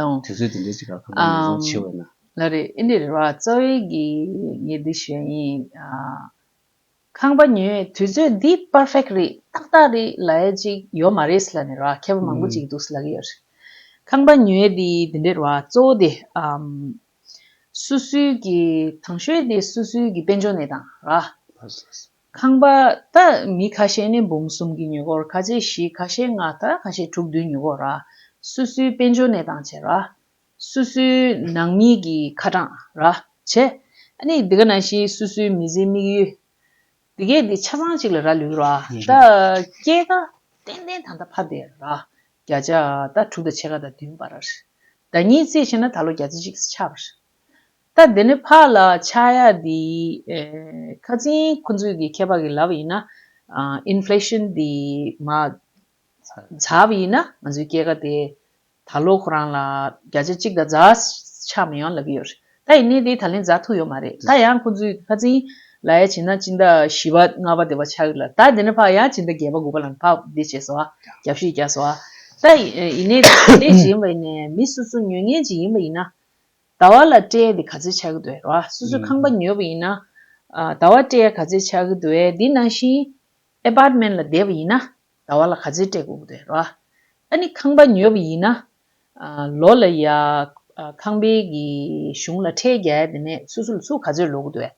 ཨང། དུས་ཚོད་དེ་འདྲའི་ཆེ་ཁག་ཁ་པར་ཉོ་ཚོང་ཆེ་བས་ན། ལ་རེད་ཨེ་འདི་རེད་བ་རྩ་བའི་གི་ངས་འདི་ཞུ་ཡ་ཡིན། ཁང་པ་ཉོས་དུས་ཚོད་འདི perfect རེད་ཏག་ཏག་རེད་ལ་ཨེ་ཅིག་ཡོད་མ་རེད་ལ་ནི་ར་མཁས་པ་མང་པོ་ཅིག་འདུག་ལ་གི་ཡོད། ཁང་པ་ཉོས་དེ་འདི་འདྲས་བ་གཙོ་བོ་དེ། སུ་སུའི་གི་ཐང་ཤོས་དེ་སུ་སུའི་གི་དཔལ་འབྱོར་ནས་དང་ར། ཁང་པ་དག་མི་ཁ་ཤས་ནས་འབུམ་གསུམ་གྱི་ཉེ་འཁོར་ཁ་ཆེ་བཞི་ཁ་ཤས་ལྔ་དག་ཁ་ཤས་དྲུག་བདུན་ཉེ་འཁོར་ར། སུ་སུའི་དཔལ་འབྱོར་གནས་སྟངས་བྱེད་ར། སུ་སུའི་ནང་མི་གྱི་ཁ་གྲངས་ར། བྱེད། ནི་འདི་ག་ན་ཤི་སུ་སུའི་མི་ཚེའི་དམིགས་ཡུལ། འདི་གས་འདི་ཆ་ཚང་གཅིག་ལ་ར་ལུས་ར། ད་སྐྱེས་ཀ་ཏན་ཏན་ད་ད་ཕ་བདེ་ར། བརྒྱ་ཆ་ད་དྲུག་ད་ཕྱེད་ཀ་ད་བདུན་པ་ར། ད་གཉིས་བརྩིས་བྱས་ན་ད་ལོ་བརྒྱ་བརྩི་གཅིག་ཆ་ར། ད་འདི་ནི་ཕ་ལ་ཆ་ཡ་འདི་ཁ་ཚིན་ཁོ་ཚོས་གི་མཁས་པ་གི་ལབ་ཡིན་ན Inflation འདི་མ་ཚབ་ཡིན་ན་ང་ཚོའི་སྐྱེ་ཁ་དེ་ད་ལོ་ཁོ་རང་ལ་བརྒྱ་ཆ་གཅིག་དང་རྫ་ཆ་མི་ཡོང་ལབ་གི་ཡོད་རེད་ད་ཡིན་ནའི་དེ་ད་ལེན་རྫ་ཐུག་ཡོད་མ་རེད་ད་ཡང་ཁོ་ཚོས་གི་ཁ་ཚིན་ལ་ཡ་བྱེད་ན་སྤྱི་ཟླ་བཞི་པ་ལྔ་པ་དེ་བ་ཆག་གི་ལ་ད་འདི་ནི་ཕ་ཡང་སྤྱི་ཟླ་བརྒྱད་པ་དགུ་པ་ལ་ནི་ཕ་འདི་བྱས་སོ་རྒྱབ་བཤིག་རྒྱག་སོ་ད་ཡིན་ནའི་དེ་ཡིན་ནའི་མི་སུ་སུ་ཉོས་ངན་ཅིག་ཡིན་པ་ཡིན་ན་ཟླ་བ་ལ་སྤྲེལ་འདི་ག་ཚོད་ཆགས་ཀྱི་འདུག་ཨེ་རོ་ཨ། སོ་སོའི་ཁང་པ་ཉོས་པ་ཡིན་ན། ཟླ་བ་སྤྲེལ་ག་ཚོད་ཆགས་ཀྱི་འདུག་ཨེ་འདི་ནང་བཞིན། Apartment ལ་བསྡད་པ་ཡིན་ན། ཟླ་བ་ལ་ག་ཚོད་སྤྲེལ་དགོས་ཀྱི་འདུག་ཨེ་རོ་ཨ། ཨ་ནི་ཁང་པ་ཉོས་པ་ཡིན་ན། ལོ་ལ་ཡ། ཁང་པའི་གཞུང་ལ་ཁྲལ་རྒྱལ་ཡ་དེ་ནས་སོ་སོ་ལ་ཚུགས་ག་ཚོད་ལོག་གི་འདུག་ཨེ།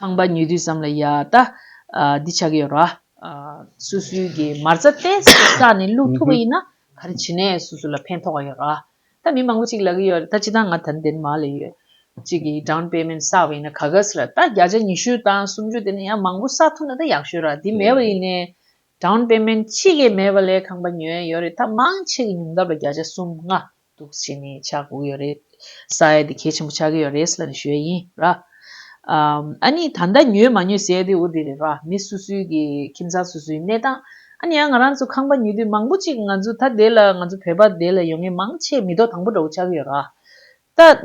ཁང་པ་ཉོས་དུས་ཙམ་ལ་ཡ་ད་འདི་ཆགས་ཀྱི་ཡོད་ར། སུ་སུའི་གི་མར་ཙ་ཏེ་ས་ནས་བླུག་ཐུབ་པ་ཡིན་ན་ག་རེ་བྱེད་ནས་སུ་སུ་ལ་ཕན་ཐོགས་ཀྱི་ཡོད་ར། ད་མི་མང་པོ་ཅིག་ལབ་ཀྱི་ཡོད་ར་ད་ཅི་ད་ང་ད་འདན་མ་ལ་ཡོད། ཅིག་གི down payment བསགས་པ་ཡིན་ན་ག་གཱས་ར་ད་བརྒྱ་ཆ་ཉི་ཤུ་དང་སུམ་ཅུ་དེ་ནས་ཡང་མང་པོ་བསགས་ཐུབ་ན་ད་ཡག་ཤོས་ར་དེ་མེད་པ་ཡིན་ནས down payment ཅི་གི་མེད་པ་ལས་ཁང་པ་ཉོས་ཡོད་རེད་ད་མང་ཆེ་གི་ཉུང་ཐབས་ལ་བརྒྱ་ཆ་གསུམ་ལྔ། འདུག་བྱས་ནས་ཆགས་དགོས་ཡོད་རེད། ས་ཡ་དེ་གལ་ཆེན་པོ་ཆགས་ཀྱི་ཡོད་རེད་ཟེར་ནས་ཞུས་ཡིན་ར། ཨཱ་ནི་ད་ལྟ་ཉོས་མ་ཉོས་ཟེར་དུས་འོ་དེ་རེད་ར་མི་སུ་སུའི་གི་ཁྱིམ་ཚང་སུ་སུའི་གནས་སྟངས་ཨཱ་ནི་ཡང་ང་རང་ཚོ་ཁང་པ་ཉོས་དུས་མང་པོ་ཅིག་ང་ཚོ་ད་དེ་ལ་ང་ཚོ་བོད་པ་དེ་ལ་ཡོང་ངེས་མང་ཆེ་མི་ཐོག་དང་པོ་འདྲ་བོ་ཆགས་ཀྱི་ཡོད་ར།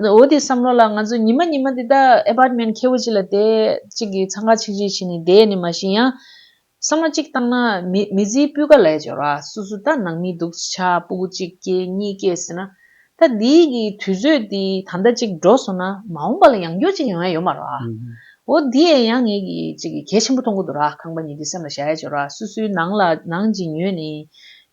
ད་འོ་དེ་བསམ་བློ་ལ་ང་ཚོ་ཉི་མ་ཉི་མ་དེ་ད Apartment ཁེ་བོ་ཅིག་ལ་དེ་ཅིག་གི་ཚང་ཁ་ཆིག་ཆིག་བྱས་ནས་བསྡད་ནི་མ་ཤེས་ཡང། ས་མ་གཅིག་བཏང་ན་མི་བརྫིའི་སྤུས་ཀ་ལས་སྦྱོར་བ་སུ་སུ་ད་ནང་མི་འདུག་ཆ་སྤུ་གུ་གཅིག་སྐྱེས་གཉིས་སྐྱེས་ཟེར་ན། ད་འདི་གི་དུས་ཚོད་འདི་ད་ཟླ་གཅིག་འགྲོ་སོང་ན་མ་འོངས་པ་ལ་ཡང་འགྱུར་གཅིག་ཡོང་ཡ་ཡོད་མ་རེད། འོ་འདི་ཡན་ཡང་ངེད་ཀྱིས་གཅིག་གལ་ཆེན་པོ་མཐོང་གི་འདུག་ར་ཁང་པ་ཉིད་འདི་སེམས་ལ་བཞག་ཡ་སྦྱོར་བ་སུ་སུའི་ནང་ལ་ནང་གཅིག་ཉོས་ནས་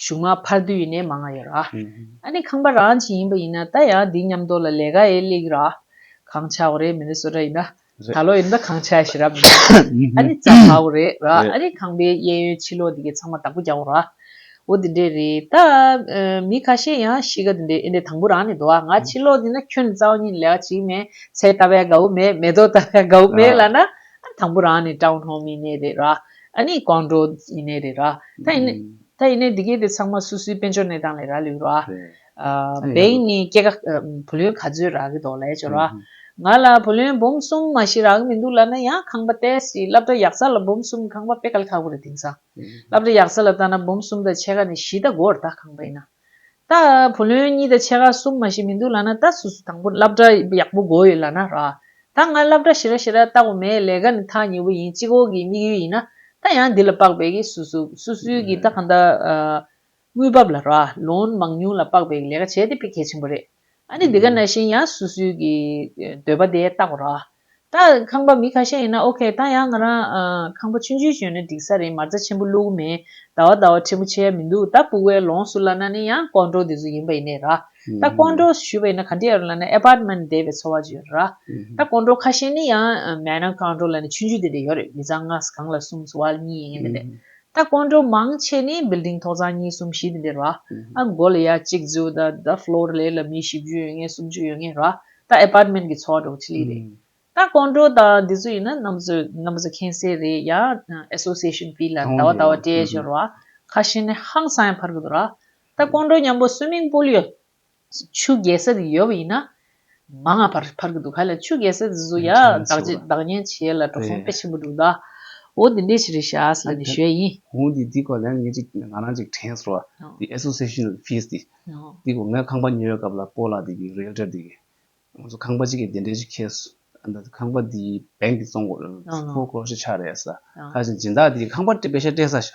གཞུག་མ་ཕར་དུས་ནས་མ་ང་ཡོད་ར། ཨ་ནི་ཁང་པ་རང་གྱི་ཡིན་པ་ཡིན་ན་ད་ཡང་འདི་ཉམས་རྟོགས་ལ་ལས་ཀ་ཨེ་ལེགས་ར། གང་ཆགས་བ་རེད་མི་ནི་བསོད་ནག་ཡིན་ན། ད་ལོ་ཡིན་ད་གང་ཆགས་ཤེས་རབ་ཡིན་ན། ཨ་ནི་རྩ་བར་བ་རེད་ར་ཨ་ནི་ཁང་པའི་གཡས་གཡོན་ཕྱི་ལོག་འདི་གའི་ཚང་མ་བདག་པོ་རྒྱག་བ་ར། འོ་དེ་འདྲས་རེད་ད། མི་ཁ་ཤས་ཡང་གཤིས་ཀ་དེ་འདྲས་ཨེ་འདྲས་དང་པོ་རང་ནས་དོ་ཨ་ང་ཕྱི་ལོག་འདི་ན་ཁྱོད་ནི་རྩ་བ་ཉིད་ལས་ཀ་བྱེད་ཀྱི་མེད་ཚལ་ལྟ་བས་དགའ་བོ་མེད་མེ་ཏོག་ལྟ་བས་དགའ་བོ་མེད་ལ་ན། ཨ་ནི་དང་པོ་རང་ནས་སྤྲང་བོ་ལྷོང་མི་གནས་རེད་ར། ཨ་ནི་གང་འགྲོ་ཡིན་ནའི་རེད་ར། ད་ཡིན་ནའི། ད་ཡིན་ནའི་འདི་གའི་དེ་ཚང་མ་སུ་སུའི་དཔལ་འབྱོར་གནས་སྟངས་ལས་ར་ལུས་ར། བེང་ནི་སྐྱེ་ཀ། བུ་ལོན་ག་ཚོད་རག་གི་འདོག་ལས་ཅོ་ར། ང་ལ་བུ་ལོན་འབུམ་གསུམ་མ་ཞིག་རག་གི་མི་འདུག་ལ་ན་ཡང་ཁང་པ་བལྟས་ཞིག་སླབ་གྲྭ་ཡག་ས་ལ་འབུམ་གསུམ་ཁང་པ་དཔེ་ག་ལ་ཁག་པོ་རེད་དེང་སང། སླབ་གྲྭ་ཡག་ས་ལ་ལྟ་ན་འབུམ་གསུམ་དང་ཕྱེད་ཀ་ནས་བཞི་ད་གོ་ར་ད་ཁང་པ་ཡིན་ན། ད་བུ་ལོན་གཉིས་དང་ཕྱེད་ཀ་གསུམ་མ་ཞིག་མི་འདུག་ལ་ན་ད་སུ་སུ་དང་པོ་སླབ་གྲྭ་ཡག་པོ་དགོས་ཡོད་ལ་ན་ར། ད་ང་སླབ་གྲྭ་ཞི་ར་ཞི་ར་ལྟ་གོ་མེད་ལས་ཀ་ནི་ཐག་ཉེ་བོ་ཡིན་གཅིག་འོག་གི་དམིགས་ཡུལ་ཡིན་ན་ད་ཡང་འདི་ལ་དཔག་པའི་གི་སུ་སུ་སུ་སུའི་གི་ད་གང་ད་དངུལ་འབབ་ལ་ར་ལོན་མང་ཉུང་ལ་དཔག་པའི་གི་ལས་ཀ་བྱས་ཏེ་དཔེ་གལ་ཆེན་པོ་རེད། ཨ་ནི་འདི་ག་ན་བཞིན་ཡང་སུ་སུའི་གི་འདོད་པ་དེ་བཏགས་པ་རོགས། ད་ཁང་པ་མི་ཁ་ཤས་ཡིན་ན་ཨོ་ཁེ་ད་ཡང་ང་རང་ཁང་པ་ཆུང་ཆུང་ཞོན་ནས་འགྲིག་ས་རེད་མར་རྩ་ཆེན་པོ་བླུག་མེད་ཟླ་བ་ཟླ་བ་ཆེན་པོ་བྱས་ཡ་མི་འདུག་ད་སྤུག་བའི་ལོངས་སུ་བླ་ན་ནི་ཡང་ཀོང་ཀྲོའུ་འདི་ཚོ་ཡིན་པ་ཡིན་ནས་ར། ད་ཀོང་ཀྲོའུ་ཞུས་པ་ཡིན་ན་ག་འདྲི་ཡ་རུ་བླ་ན Apartment དེ་བའི་འཚོ་བ་བྱོས་ར། ད་ཀོང་ཀྲོའུ་ཁ་ཤས་ནི་ཡང་མེད་ན་ཀོང་ཀྲོའུ་བླ་ན་ཆུང་ཆུང་དེ་འདྲ་ཡོད་རེད་མི་ཚང་ང་གང་ལ་གསུམ་བ་གཉིས་ཡིན་པ་དེ་ད་སྐོར་འགྲོ་མང་ཆེ་ནི building ཐོག་ཚང་གཉིས་གསུམ་བཞི་དེ་འདིར་རོ། ཨ་མགོ་ལ་ཡ་གཅིག་རྫུས་ད་ད floor ལས་ལ་མི་བཞི་བཅུ་ཡོད་ངེས་གསུམ་བཅུ་ཡོད་ངེས་རོ། ད apartment གི་ཚོགས་འགྲོ་ཆི་ལི་རེད། ད་སྐོར་འགྲོ་ད་འདི་ཚོ་ཡིན་ན་གནམ་བཟོ་གནམ་བཟོ་མཁན་སེ་རེད་ཡ association བི་ལ་ད་བ་ད་བ་སྤྲད་བཞིན་རོ། ཁ་ཤེས་ནི་ཧང་སང་ཡང་འཕར་གི་འདུག་རོ། ད་སྐོར་འགྲོ་མཉམ་པོ swimming pool ཡོད། ཆུ་རྒྱལ་སྲས་དེ་ཡོད་པ་ཡིན་ན། མ་སྔ་བར་བར་གྱི་འདུག་ག་ལ་ཆུ་རྒྱལ་སྲས་དེ་ཚོ་ཡང་བདག་བྱེད་བདག་ཉན་བྱེད་ལ་འགྲོ་སོང་དཔེ་ཆེན་པོ་འདུག་ད། འོ་དེ་འདྲའི་ཕྱིར་ཤཱས་ལ་ནི་ཞོལ་ཡིན། གོང་གི་འདི་སྐོར་ལན་ངེས་ཅིག་ང་རང་ཅིག་དྲན་སོང། འདི Association Fees འདི། འདི་གོང་ངས་ཁང་པ་ཉོས་སྐབས་ལ་པོ་ལགས་འདི་གི Realtor འདི་གི། ང་ཚོ་ཁང་པ་གཅིག་གི་བདེ་འདྲེན་ཅིག་ཁེལ་སོང། ཁང་པ་འདི Bank གི་བཙོང། Foreclosure ཆགས་རེད་ཟེར། ཁ་ཅིག་སྦྱིན་བདག་འདི་ཁང་པ་སྤེལ་ཤ་སྤྲད་ས་ཤ།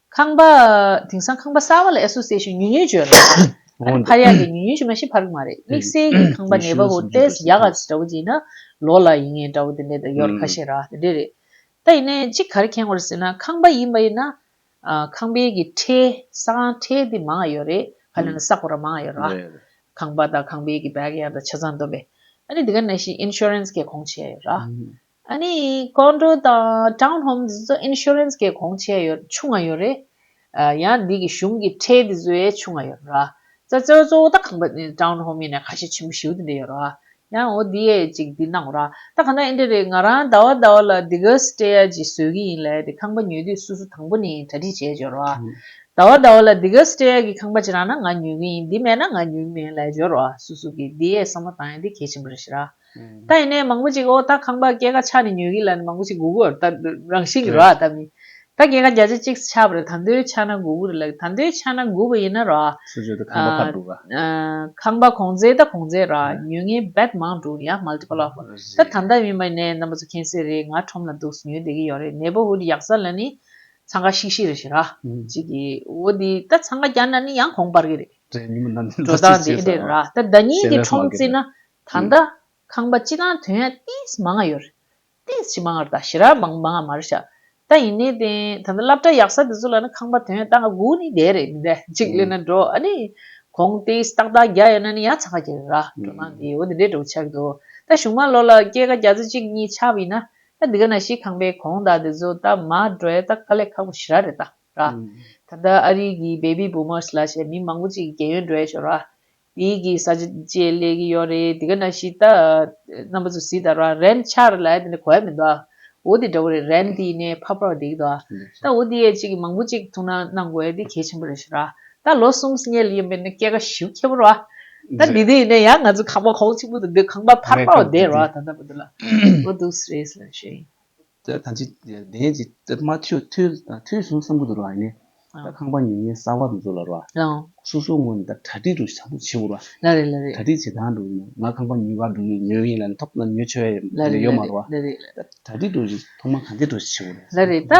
ཁང་པ། དེང་སང་ཁང་པ་གསར་བ་ལ་ཨེ་སོ་སེ་ཞེས་ཉུལ་ཉུལ་བརྗོད་ལ། ཨ་ནི་ཕར་ཡག་གི་ཉུལ་ཉུལ་ཞིག་མ་ཤེས་ཕར་གི་མ་རེད་དམིགས་བསལ་གྱི་ཁང་པ་ནད་པ་བོ་ཏེས་ཡག་ག་ཚོད་འདྲ་བོ་བྱས་ན། ལོ་ལ་ཡིན་ངེས་འདྲ་བོ་དེ་འདྲས་དང་ཡོར་ཁ་ཤས་ར་དེ་འདྲས་རེད། ད་ཡིན་ནའི་ཅིག་གར་ཁེངས་བར་ཟེར་ན་ཁང་པ་ཡིན་པ་ཡིན་ན། ཁང་པའི་གི་ཁྲེ། ས་ཁང་ཁྲེ་དེ་མང་ཡོད་རེད་ཧ་ལས་ན་བསགས་པ་ར་མང་ཡོད་ར། ཁང་པ་དང་ཁང་པའི་གི་བལ་གི་ཡང་དང་ཆ་ཚང་འདོམས་པས། ཨ་ནི་དེ་ག་ནས་ཤིག insurance གས་གོང་བྱས་ཡོད་ར། ཨ་ནི་ཀོང་ཀྲོའུ་དང་ཀྲང་ལྷོམ་འདི་ཚོ Insurance གི་གོང་ཆེ་ཡོད་ཆུ་ང་ཡོད་རེད། ཡང་འདི་གི་གཞུང་གི་ཁྲལ་འདི་ཚོའི་ཆུ་ང་ཡོད་རེད། ཙེ་ཙོའི་གཙོ་བོ་ད་གང་པ་ནི་ཀྲང་ལྷོམ་ཡིན་ནའི་ཁ་ཞེ་ཆེན་པོ་ཞིའུ་འདི་འདྲ་ཡོད་རེད། ཡང་འོ་འདི་ཡས་ཅིག་འདི་གནང་རེད། ད་གང་ད་ཨིན་འདྲ་རེད་ང་རང་ད་བ་ད་བ་ལ་འདི་གའི Stay གི་བཟོས་གི་ཡིན་ལས་འདི་ཁང་པ་ཉོས་དུས་སུ་སུ་དང་པོ་ནས་གྲ་སྒྲིག་བྱས་བྱོས་རེད། ད་བ་ད་བ་ལ་འདི་གའི Stay གི་ཁང་པ་ཅི་རང་ན་ང་ཉོས་གི་ཡིན་འདི་མེད་ན་ང་ཉོས་གི་མིན་ལས་བྱོས་རེད་སུ་སུ་གི་འདི་ཡས་བསམ་བློ་བཏང་ཡང་འདི་གལ་ཆེན་པོ་རེད་ཤི་རེད། ད་ཡིན་ནའི་མང་པོ་ཅིག་ཨོ་ད་ཁང་པ་སྐྱེད་ཀ་ཆག་ནས་ཉོས་གི་ལ་ནི་མང་པོ་ཅིག་དགུ་དགུ་ར་ད་རང་བཞིན་གི་ར་ཨ་ད་མིན། ད་སྐྱེད་ཀ་བརྒྱ་ཆ་གཅིག་ཆག་པ་རེད་ད་འདོད་ཆག་ན་དགུ་དགུ་རེད་ལ་ད་འདོད་ཆག་ན་དགུ་དགུ་ཡིན་ན་ར་ཨ། སུ་བརྗོད་དུ་ཁང་པ་ཕར་འདུག་ཨ། ཁང་པ་གོང་ཚད་ད་གོང་ཚད་ར་ཨ་ཉོས་ངའི་བད་མང་འདུག་ཡ multiple of ད་ད་ད་མིན་པ་ཡིན་ནའི་རྣམ་པ་ཚོ་མཁྱེན་གསལ་རེད་ང་ཁྲོམ་ལ་འདུག་ཉོས་བསྡད་གི་ཡོད་རེད neighborhood ཡག་ས་ལ་ནི་འཚང་ཁ་ཤིག་ཤིག་རེད་ཤི་ར་ཨ་ཅིག་གི་ཨོ་དེ་ད་འཚང་ཁ་རྒྱག་ན་ནི་ཡང་གོང་སྤར་གི་རེད། དྲན་ཉིན་མོ་ནམ་ཟླའི་འཛའ་ཞིག་བྱེད་ས་ཨོ། ར་ད་ད་ཉིན་གི་ཁྲོམ་བརྩིས་ན་ད་ལྟ། ཁང་པ་སྤྱི་དང་དོན་ཡང་ཏིས་མ་ང་ཡོར། ཏིས་ཕྱི་མ་ངར་དང་ཞི་རར་མང་མ་ང་མར་བཞག། ད་ཡིན་ནའི་དེ། ད་ལྟ་བསླབ་གྲྭ་ཡག་ས་དེ་ཚོ་ལ་ནི་ཁང་པ་དོན་ཡང་ཏག་ང་དགུ་ནི་བསྡད་རེད་མི་བསྡད་གཅིག་གླེན་ན་འགྲོ་ཨ་ནི། གོང་ཏིས་ཏག་ཏག་བརྒྱ་ཡོད་ན་ནི་ཡང་ཚ་ཁ་གྱེར་ར་འགྲོ་ན་འདི་འོ་དེ་འདྲའི་འགྲོ་གི་ཆགས་ཀྱི་འདུག་ད་གཞུང་མ་ལོ་ལ་སྐྱེས་ཀ་བརྒྱ་ཚོ་གཅིག་གཉིས་ཆགས་པ་ཡིན་ན། ད་འདི་ག་ན་ཤི་ཁང་པའི་གོང་ད་དེ་ཚོ་ད་མ་འགྲོ་ཡ་ཏག་ཀ་ལས་ཁག་པོ་ཞི་ར་རེད་ཏག་ར། ད་ལྟ་ཨ་རིག་གི Baby Boomers ལ་ཞེས་མི་མང་པོ་གཅིག་གི་རྒན་ཡོལ་འགྲོ་ཡ་ཤོར་ར། དེའི་གི་ས་ཆ་བཅས་ལས་གི་ཡོད་རེད་དེ་ག་ན་ཤི་ད་རྣམ་པ་ཚོ་སི་ད་ར་རན་ཆ་ར་ལ་དེ་ནས་གོ་ཡ་མི་འདུག་འོ་དེ་འདྲ་བོ་རེད་རན་དེ་ནས་ཕ་པར་བ་དེ་གི་འདུག་ད་འོ་དེ་ཡས་ཅིག་གི་མང་པོ་ཅིག་ཐུག་ན་གནང་དགོས་ཡ་དེ་གལ་ཆེན་པོ་རེད་ཤི་ར་ད་ལོ་གསུམ་བསྙལ་ཡིན་པས་ན་སྐྱེ་ཀ་བཞི་བརྒྱད་པོ་ར་ད་དེ་དེ་ཡིན་ན་ཡ་ང་ཚོ་ཁང་པ་ཁོག་ཅིག་པོ་དུ་འདུག་ཁང་པ་ཕར་པར་བ་དེ་ར་ད་ད་པོ་དུ་ལ་འོ་འདུག་སི་རེད་སི་ལ་ཤི་ཡིན། ད་གང་ཅི་བདེན་ཅི་སྨྲ་ཐོས་ཐོས་སོང་བསམ་གྱི་འདུག་ར་ནས་ད་ཁང་པ་ཉིན་ཉིན་གསར་བ་དུ་འཛུགས་ལ་ར་སོ་སོ་ངོས་ནས་ད་གྲ་སྒྲིག་དུ་བྱ་འདུག་བྱེད་དགོས་ར་གྲ་སྒྲིག་བྱེད་སྟངས་དུ་ང་ཁང་པ་ཉིན་བར་དུ་ཡོད་ཡོད་ཡིན་ལ་ནས་ཐོབ་ཡོད་ཆོད་ཡོད་ཡོད་མ་ར་གྲ་སྒྲིག་དུ་ཐོག་མ་གང་ཐད་དུ་བྱེད་དགོས་ར་རེད་ད་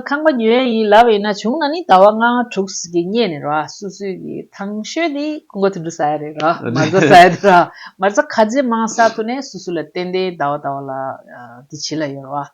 ཁང་པ་ཉོས་ཡོད་ཡིན་ལ་བས་ན་བྱུང་ན་ནི་ད་བ་ལྔ་དྲུག་གི་སྙད་ནས་ར་སོ་སོའི་གི་ཐང་ཤོད་དེ་ཁོ་འགོ་དུ་འགྲོ་ས་ཡ་རེད་ར་མ་རྫ་ས་ཡ་དུ་ར་མ་རྫ་ཁ་རྗེ་མང་ས་དུ་ནས་སོ་སོ་ལ་ཏན་ཏན་ད་བ་ད་བ་ལ། འདི་ཇི་ལ་ཡོད་རེད་བ།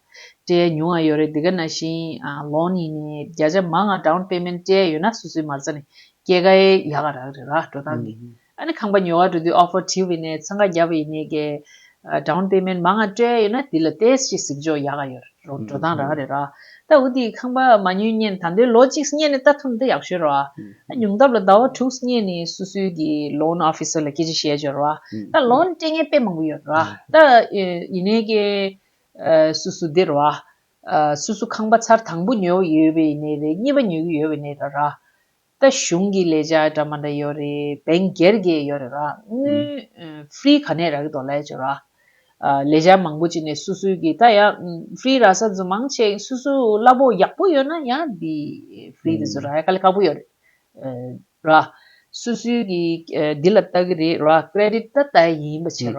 སྤྲད་མྱོང་ཡ་ཡོད་རེད་འདི་ག་ན་ཤིང་ལོང་ནི་ནས་བརྒྱ་ཆ་མང་ང་འདྲའོ་པེ་མེན་སྤྲད་ཡོད་ན་སུ་སུའི་མར་ཚ་ནི་སྐྱེ་ག་ཡེ་ཡ་ག་རག་རེད་ར་འགྲོ་སྟངས་གི་ཨ་ནི་ཁང་པ་ཉོ་བ་འགྲོ་དུས་ཨོ་ཕོ་ཐིའུ་བི་ནས་ཚང་ག་བརྒྱ་པ་ཡི་ནས་གས་འདྲའོ་པེ་མེན་མང་ང་སྤྲད་ཡོད་ན་འདི་ལ་ཏེས་ཤི་ཟིག་འཇོག་ཡ་ག་ཡོད་རེད་རོ་འགྲོ་སྟངས་རག་རེད་ར་རྟ་འུ་ཏིའི་ཁང་པ་མ་སྙུན་སྙན་ད་འདོད་ལོ་གཅིག་སྙན་ནི་རྟ་ཐུབ་འདི་ཡག་ཤོད་རོ། ཉུང་སྟབས་ལ་ཟླ་བ་དྲུག་སྙན་ནི་སུ་སུའི་གི loan officer ལ་སྐད་ཆ་བཤད་བྱོས་རོ། རྟ loan སྤྲད་མཁན་དཔེ་མང་པོ་ཡོད་རོ། རྟ་ཡིན་ནའི་གི་སུ་སུ་འདི་རོ། སུ་སུ་ཁང་པ་ཚར་དང་པོ་ཉོས་ཡོད་པའི་ནས་རེད་གཉིས་པ་ཉོས་གི་ཡོད་པའི་ནས་རེད་རོ། ད་གཞུང་གི་ལས་བྱ་འདྲ་མ་འདྲ་ཡོད་རེད་བན་རྒྱལ་རྒྱལ་ཡོད་རེད་ར་དངུལ free ག་ནས་རག་གི་འདུག་ལས་བྱོས་ར། ལས་བྱ་མང་པོ་བྱེད་ནས་སུ་སུའི་གི་ད་ཡང free ར་ས་རྫུན་མང་བྱས་སུ་སུ་གླ་པོ་ཡག་པོ་ཡོད་ན་ཡང་འདི free དེ་ཚོ་ར་ཡ་ཀ་ལས་ཁག་པོ་ཡོད་རེད་ར། སུ་སུའི་གི་འདི་ལ་ལྟ་གི་རེད་ར credit ད་ལྟ་ཡིན་པ་བྱས་ར།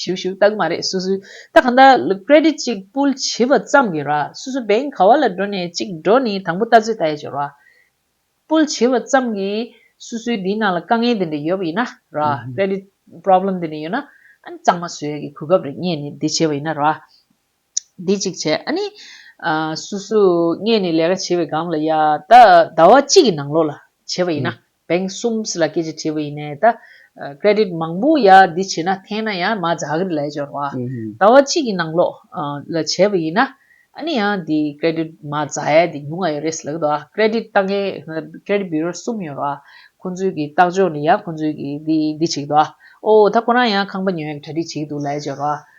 ཞུ་ཞུ་ལྟ་གི་མ་རེད་སུ་སུ་ད་གང་ལྟར credit གཅིག་པུལ་བྱིས་པ་ཙམ་གི་ར་སུ་སུ bank ག་བ་ལ་འགྲོ་ནས་གཅིག་འགྲོ་ནི་དང་པོ་ལྟ་ཚོད་ལྟ་ཡ་ཆོད་ར་པུལ་བྱིས་པ་ཙམ་གི་སུ་སུའི་འདིའི་ནང་ལ་དཀའ་ངལ་དེ་འདྲ་ཡོད་པ་ཡིན་ན་ར credit problem དེ་འདྲ་ཡོད་ན་ཨ་ནི་གཙང་མ་བཟོས་ཡ་གི་གོ་སྐབས་རེ་རྙེད་ནི་འདི་བྱས་པ་ཡིན་ན་ར། འདི་ཅིག་བྱས་ཨ་ནི། སུ་སུ་སྔས་ནི་ལས་ཀ་བྱེད་པའི་སྒང་ལ་ཡ། ད་ཟླ་བ་གཅིག་གི་ནང་ལོགས་ལ་བྱས་པ་ཡིན་ན་བེང་གསུམ་སི་ལ་སྐད་ཅིག་བྲིས་པ་ཡིན་ནས་ད། Credit མང་པོ་ཡ་འདི་བྱེད་ན་འཐེན་ན་ཡ་མ་ཛ་ཧ་གི་རི་ལས་འབྱོར་བ། ཟླ་བ་གཅིག་གི་ནང་ལོགས་ལ་བྱས་པ་ཡིན་ན་ཨ་ནི་ཡ་འདི Credit མ་ཛ་ཧ་འདི་ཉུང་ང་ཡོད་རེད་སི་ལ་གི་ད། Credit ལྟ་མཁན Credit Bureau གསུམ་ཡོད་ར། ཁོང་ཚོའི་གི་ལྟག་ཕྱོགས་ནི་ཡ་ཁོང་ཚོའི་གི་འདི་འདི་བྱེད་གི་ད། ཨོ་ད་ཁོ་རང་ཡ་ཁང་པ་ཉོས་གྲ་སྒྲིག་བྱེད་གི་འདུག་ལས་འབྱོར་བ།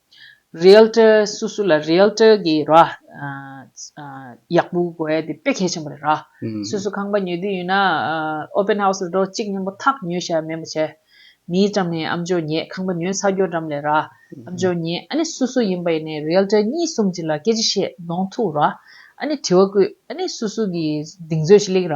Realtor སུ་སུ་ལ Realtor གི་ར། ཡག་པོ་དགོས་དེ་དཔེ་གལ་ཆེན་པོ་རེད་ར། སུ་སུ་ཁང་པ་ཉོས་དུས་ཡོད་ན། Open House ལ་འགྲོ་གཅིག་སྙམ་པོ་ཐག་ཉོས་ཤ་མེད་པོ་བྱས། མིའི་འགྲམ་ནས་ཨམ་ཅོ་ཉེས་ཁང་པ་ཉོས་ཚར་རྒྱོ་འགྲམ་ལས་ར། ཨམ་ཅོ་ཉེས་ཨ་ནི་སུ་སུ་ཡིན་པ་ཡིན་ནས Realtor གཉིས་གསུམ་གཅིག་ལ་སྐད་ཅིག་བཤད་གདོང་ཐུག་ར། ཨ་ནི་དྲི་བ་བསྐུལ་ཨ་ནི་སུ་སུ་གི་གདིང་ཚོད་ཅིག་ལེགས་ར།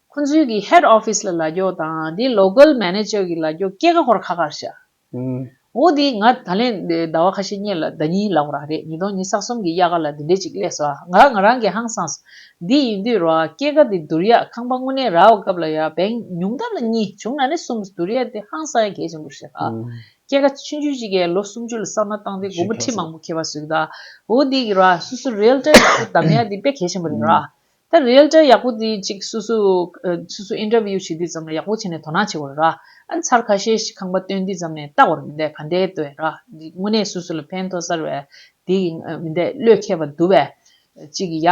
ཁོ་ཚོའི་གི Head Office ལ་ལ་རྒྱོགས་དང་དེའི Local Manager གི་ལ་རྒྱོགས་སྐྱེ་ཁ་ཧོར་ཁ་ཁར་བྱ། འོ་དེ་ང་ད་ལན་ཟླ་བ་ཁ་ཤས་རྙེད་ལ་ཟླ་གཉིས་ལག་རག་རེད་ཉིས་སྟོང་ཉིས་ས་གསུམ་གི་དབྱར་ཁ་ལ་འདི་འདྲས་ཅིག་གླས་སོ་ང་ང་རང་གི་ཧང་སངས་འདི་ཡིན་དུས་རོ་སྐྱེ་ཁ་དེ་དུར་ཡག་ཁང་པ་དངོས་གནས་རག་བ་སྐབས་ལ་ཡ་བེང་ཉུང་ད་ལ་གཉིས་བྱུང་ན་ནི་གསུམ་དུར་ཡག་དེ་ཧང་སངས་ཡ་གལ་ཆེན་པོ་རེད་ད་སྐྱེ་ཁ་ཆུན་ཆུན་ཅིག་གས་ལོ་གསུམ་ཅུ་ལ་བསགས་ན་བཏང་སྟེ་སྒོར་མོ་ཁྲི་མང་པོ་ཁེལ་བ་བཟོས་གི་ད་འོ་དེ་གི་ར་སུ་སུ་རེལ་ཏེ་ལ་སུ་དམ་ཡག་དེ་དཔེ་གལ་ཆེན་པོ་རེད་ར་ད་རེལ་གྲྭ་ཡག་པོ་འདི་ཅིག་སུ་སུ་སུ་སུ interview བྱེད་དུས་ཙམ་ལ་ཡག་པོ་བྱས་ནས་དོ་སྣང་བྱེད་དགོས་ར་ཨ་མཚར་ཁ་ཤས་ཤིག་ཁང་པ་སྟོན་དུས་ཙམ་ནས་ལྟ་བར་མི་འདས་ག་འདའི་ལྟོས་ར་དངོས་གནས་སུ་སུ་ལ་ཕན་ཐོག་གསར་བའི་དེ་ཡིན་མི་འདས་བློས་མཁས་པ་འདུ་བས་ཅིག་ཡ་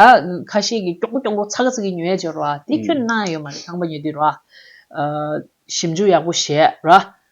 ཁ་ཤས་ཀྱིས་ཀྱོག་པོ་ཀྱོག་པོ་ཚ་ག་ཚ་གི་ཉོས་ཡ་བྱས་ར་དེ་ཁྱོད་ན་ཡོད་མ་རེད་ཁང་པ་ཉོས་དུས་ར་ཞིབ་འཇུག་ཡག་པོ་བྱས་ར་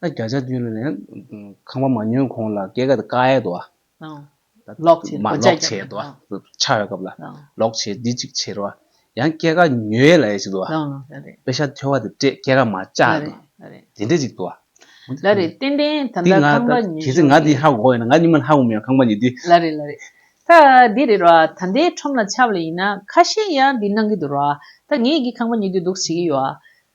ད་བརྒྱ་ཆ་བཅུ་ལོན་ནས་ཁང་པ་མ་ཉོས་གོང་ལ་སྐད་ཀ་ཀ་ཡེ་དོ། ལོག་བྱེད། མ་ལོག་བྱེད་དོ། ཆགས་ཡོད་སྐབས་ལ་ལོག་བྱེད་འདི་གཅིག་བྱེད་རོ། ཡང་སྐད་ཀ་ཉོས་ཡེ་ལ་ཡེ་བྱེད་དོ། དཔེ་ཤ་ཐོལ་བ་དེ་སྤྲད་སྐད་ཀ་མ་བཅག་དོ། དེ་འདྲས་ཅིག་དོ། ལ་རེ་ཏན་ཏན་ད་ལྟ་ཁང་པ་ཉོས་བྱུང། ང་དེ་ཧ་གོ་ཡོད་ན་ང་གཉིས་མ་ཧ་གོ་མི་ཡང་ཁང་པ་ཉོས་དུས། ལ་རེ་ལ་རེ། ད་འདི་རེད་རོ། ད་ཟླའི་ཁྲོམ་ལ་ཆབ་ལ་ཡིན་ན་ཁ་ཤས་ཡང་འདི་གནང་གི་འདུག་རོ། ད་ངེད་ཀྱིས་ཁང་པ་ཉོས་དུས་འདུག་བྱེད་ཀྱི་ཡོད།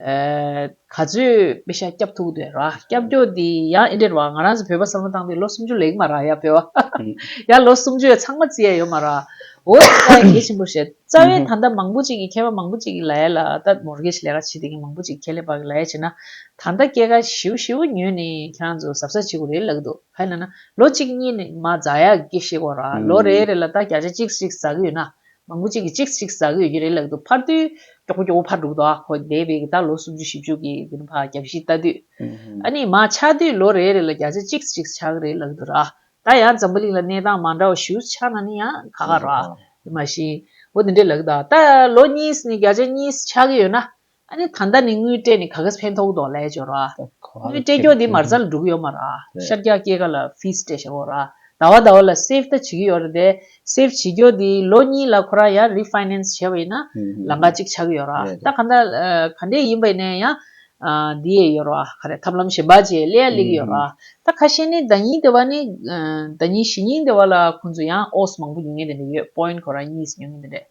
ག་ཚོད་དཔེ་ཤ་སྐྱབས་ཐུག་དོན་ར་སྐྱབས་རྒྱོ་དེ་ཡང་ཨེ་འདྲེར་བ་ང་རང་ཚོ་བོད་པ་བསམ་བློ་བཏང་དུས་ལོ་སུམ་ཅུ་ལེགས་མ་ར་ཡ་བོད་བ་ཧ་ཧ་ཡ་ལོ་སུམ་ཅུ་ཡ་ཚང་མ་རྩི་ཡ་ཡོད་མ་ར་འོ་ད་ཀ་ཡ་གལ་ཆེན་པོ་བཤད་རྩ་བའི་ད་ལྟ་མང་པོ་ཅིག་གི་མཁས་པ་མང་པོ་ཅིག་གི་ལ་ཡ་ལ་ད་ལྟ Mortgage ལས་ཀ་བྱེད་དེ་གི་མང་པོ་ཅིག་ཁྱད་ལས་པ་གི་ལ་ཡ་བྱེད་ན་ད་ལྟ་སྐྱེད་ཀ་ཞི་བོ་ཞི་བོ་ཉོས་ནས་ཁྱེད་རང་ཚོ་ཟབ་ས་བྱེད་དགོས་རེད་ལགས་འདུག་ཧ་ཡ་ན་ན་ལོ་གཅིག་གཉིས་ནས་མ་ཛ་ཡ་གི་ཤེས་དགོས་ར་ལོ་རེ་རེ་ལ་ད་བརྒྱ་ཆ་གཅིག་གཅིག་ཟ་གི་ཡོད་ན་མང་པོ་གཅིག་གིས་གཅིག་གཅིག་ཟ་གིས་ཡུན་རིང་ལག་ཏུ་འཕར་དུས། མགྱོགས་པོ་མགྱོགས་པོ་འཕར་འགྲོ་གི་འདུག་ཨ་ཁོ་འདས་པའི་གི་ད་ལོ་སུམ་ཅུ་བཞི་བཅུ་གི་གི་བར་རྒྱ་བཞི་བཏགས་དུས། ཨ་ནི་མ་ཆགས་དུས་ལོ་རེ་རེ་ལ་བརྒྱ་ཆ་གཅིག་གཅིག་ཆགས་རེད་ལག་ཏུ་ར། ད་ཡང་འཛམ་བུ་གླིང་ལ་གནས་སྟངས་མ་འདྲ་བ་ཞུ་ཆགས་ན་ནི་ཡང་ཁ་ཁ་ར། དེ་མ་བཞིན། འོ་དེ་འདྲའི་ལག་ཏུ་ཨ། ད་ལོ་གཉིས་ནི་བརྒྱ་ཆ་གཉིས་ཆགས་གི་ཡོད་ན། ཨ་ནི་ད་ལྟ་ནི་དངུལ་སྤྲད་ནི་ག་གེས་ཕན་ཐོགས་དོགས་ལས་འབྱོར་ར། དངུལ་སྤྲད་རྒྱོགས་དེ་མར་རྩ་ལ་འགྲུབ་གི་ཡོད་མ་ར། ཤར་རྒྱག་སྐྱེས་ཀ་ལ fees སྤྲད་ཞེ་བོ་ར། ཟླ་བ་ཟླ་བ་ལ save ད་བྱེད་ཀྱི་ཡོད་ར་དེ save བྱེད་རྒྱོགས་དེ་ལོ་གཉིས་ལ་ཁོ་རང་ཡང refinance བྱས་པ་ཡིན་ན་ལང་ཀ་གཅིག་ཆགས་ཀྱི་ཡོད་ར། ད་ག་འདྲ་ག་འདྲས་ཡིན་པ་ཡིན་ན་ཡང་དེ་ཡས་ཡོད་ར་ག་རེ་ཐབས་ལམ་གཞན་པ་བཅས་གླེ་ཡ་གླེ་གི་ཡོད་ར། ད་ག་ཤེས་ནི་ཟླ་གཉིས་དེ་བ་ནི་ཟླ་གཉིས་ཞེ་གཉིས་དེ་བ་ལ་ཁོང་ཚོ་ཡང oz མང་པོ་ཉོ་ངེས་དེ་འདྲས་ཡོད point ཁོ་རང་གཉིས་སུ་ཉོ་ངེས་དེ་འདྲས།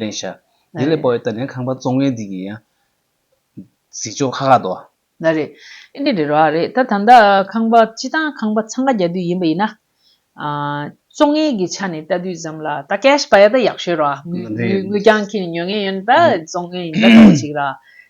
ལེན་བྱ། དེ་ལས་པའོ་ཏཱ་ལའི་ཁང་པ་བཙོང་མཁན་དེ་གི་ཡང། གཟིགས་ཕྱོགས་ཁ་ཁ་དོ། ན་རེ། ཨེ་འདི་རེད་རོ་ཨ་རེད་ད་ད་ལྟ་ཁང་པ་སྤྱི་བཏང་ཁང་པ་འཚང་ཁ་རྒྱག་དུས་ཡིན་པ་ཡིན་ན། བཙོང་མཁན་གི་ཆ་ནས་ལྟ་དུས་ཙམ་ལ་ད cash པ་ཡ་ད་ཡག་ཤོས་རོ་ཨ། ངོས་ཀྱང་ཁྱེད་ཉོ་མཁན་ཡོད་ན་ད་བཙོང་མཁན་ཡིན་ད་ཐོག་ཅིག་ར།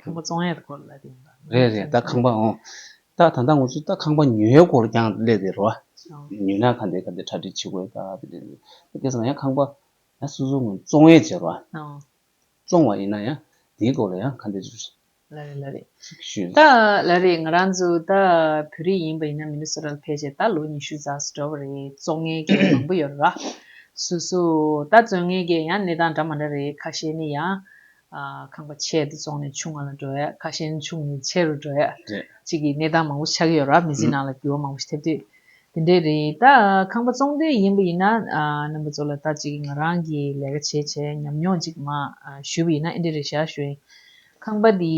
ཁང་པ་བཙོང་ཡས་སྐོར་ལ་དེ་འདྲ་རེད་རེད་ད་ཁང་པ་འོང། ད་ད་ད་ངོ་ཚོས་ད་ཁང་པ་ཉོས་ཡས་སྐོར་ཀྱང་གླས་དེ་རོ། ཉོས་ན་ག་འདི་ག་འདི་གྲ་སྒྲིག་བྱེད་དགོས་ག་དེ་དེ་དེ་སྐད་ཟེར་ན་ཡང་ཁང་པ་ཡང་སོ་སོ་ངོ་བཙོང་ཡས་བྱེད་རོ། བཙོང་བ་ཡིན་ན་ཡང་དེའི་སྐོར་ལ་ཡང་ག་འདི་རེད། ལ་རེད་ལ་རེད་ད་ལ་རེད་ང་རང་ཚོ་ད་བོད་རིགས་ཡིན་པ་ཡིན་ན་མི་ནི་སོ་ར་ལ་ཕེབས་བྱས་ད་ལོ་ཉི་ཤུ་རྩ་སོ་འགྲོ་བ་རེད་བཙོང་ཡས་སྐད་མང་པོ་ཡོད་ར། སུ་སུ་ད་བཙོང་ཡས་སྐད་ཡང་གནས་སྟངས་འདྲ་མ་འདྲ་རེད་ཁ་ཤས་ནི་ཡང་ཁང་པ་ཆེ་དེ་བཙོང་ནས་ཆུང་ང་ལ་འགྲོ་ཡས་ཁ་ཞན་ཆུང་ནས་ཆེ་རུ་འགྲོ་ཡས་ཅིག་གི་གནས་སྟངས་མང་པོ་ཆགས་ཀྱི་ཡོད་ར་མི་ཚེ་ནང་ལ་འགྱུར་བ་མང་པོ་ཞིག་ཐེབས་དུས་དེ་འདྲས་རེད་ད་ཁང་པ་བཙོང་དུས་ཡིན་པ་ཡིན་ན་རྣམ་པ་ཚོ་ལ་ད་ཅིག་ང་རང་གི་ལས་ཀ་བྱས་བྱས་ཉམས་མྱོང་ཅིག་མ་ཞུས་པ་ཡིན་ན་ཨེ་འདྲས་རེད་ཞག་ཞུ་ཡིན་ཁང་པ་དེ་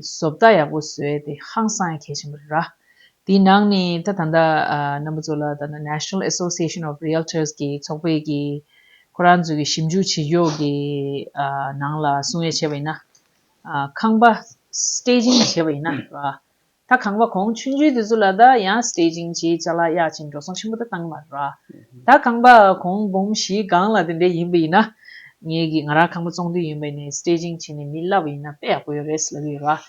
བཟོ་བལྟ་ཡག་པོ་བཟོས་དེ་ཧང་སང་ཡང་གལ་ཆེན་པོ་རེད་ར་དེའི་ནང་ནས་ད་ད་ལྟ་རྣམ་པ་ཚོ་ལ་ད་ལྟ National Association of Realtors གི་ཚོགས་པའི་གི། ཁོ་རང་ཚོས་ཀྱི་ཞིབ་འཇུག་བྱེད་ཕྱོགས་ཀྱི་ནང་ལ་གསུང་ཡ་བྱས་པ་ཡིན་ན། ཁང་པ Staging བྱས་པ་ཡིན་ན། ད་ཁང་པ་གོང་ཆུང་ཆུང་དེ་ཚོ་ལ་ད་ཡང Staging བྱེད་ཆ་ལག་ཡག་ཅིག་འགྲོ་སོང་ཆེན་པོ་ད་བཏང་མ་རེད། ད་ཁང་པ་གོང་འབུམ་བཞི་སྒང་ལ་དེ་འདྲས་ཡིན་པ་ཡིན་ན། ངས་ཀྱི་ང་རང་ཁང་པ་བཙོང་དུས་ཡིན་པ་ནས Staging བྱས་ནས་མི་ལབ་པ་ཡིན་ན་དཔེ་ཡག་པོ་ཡོད་རེད་ལབ་ཡོད་རེད།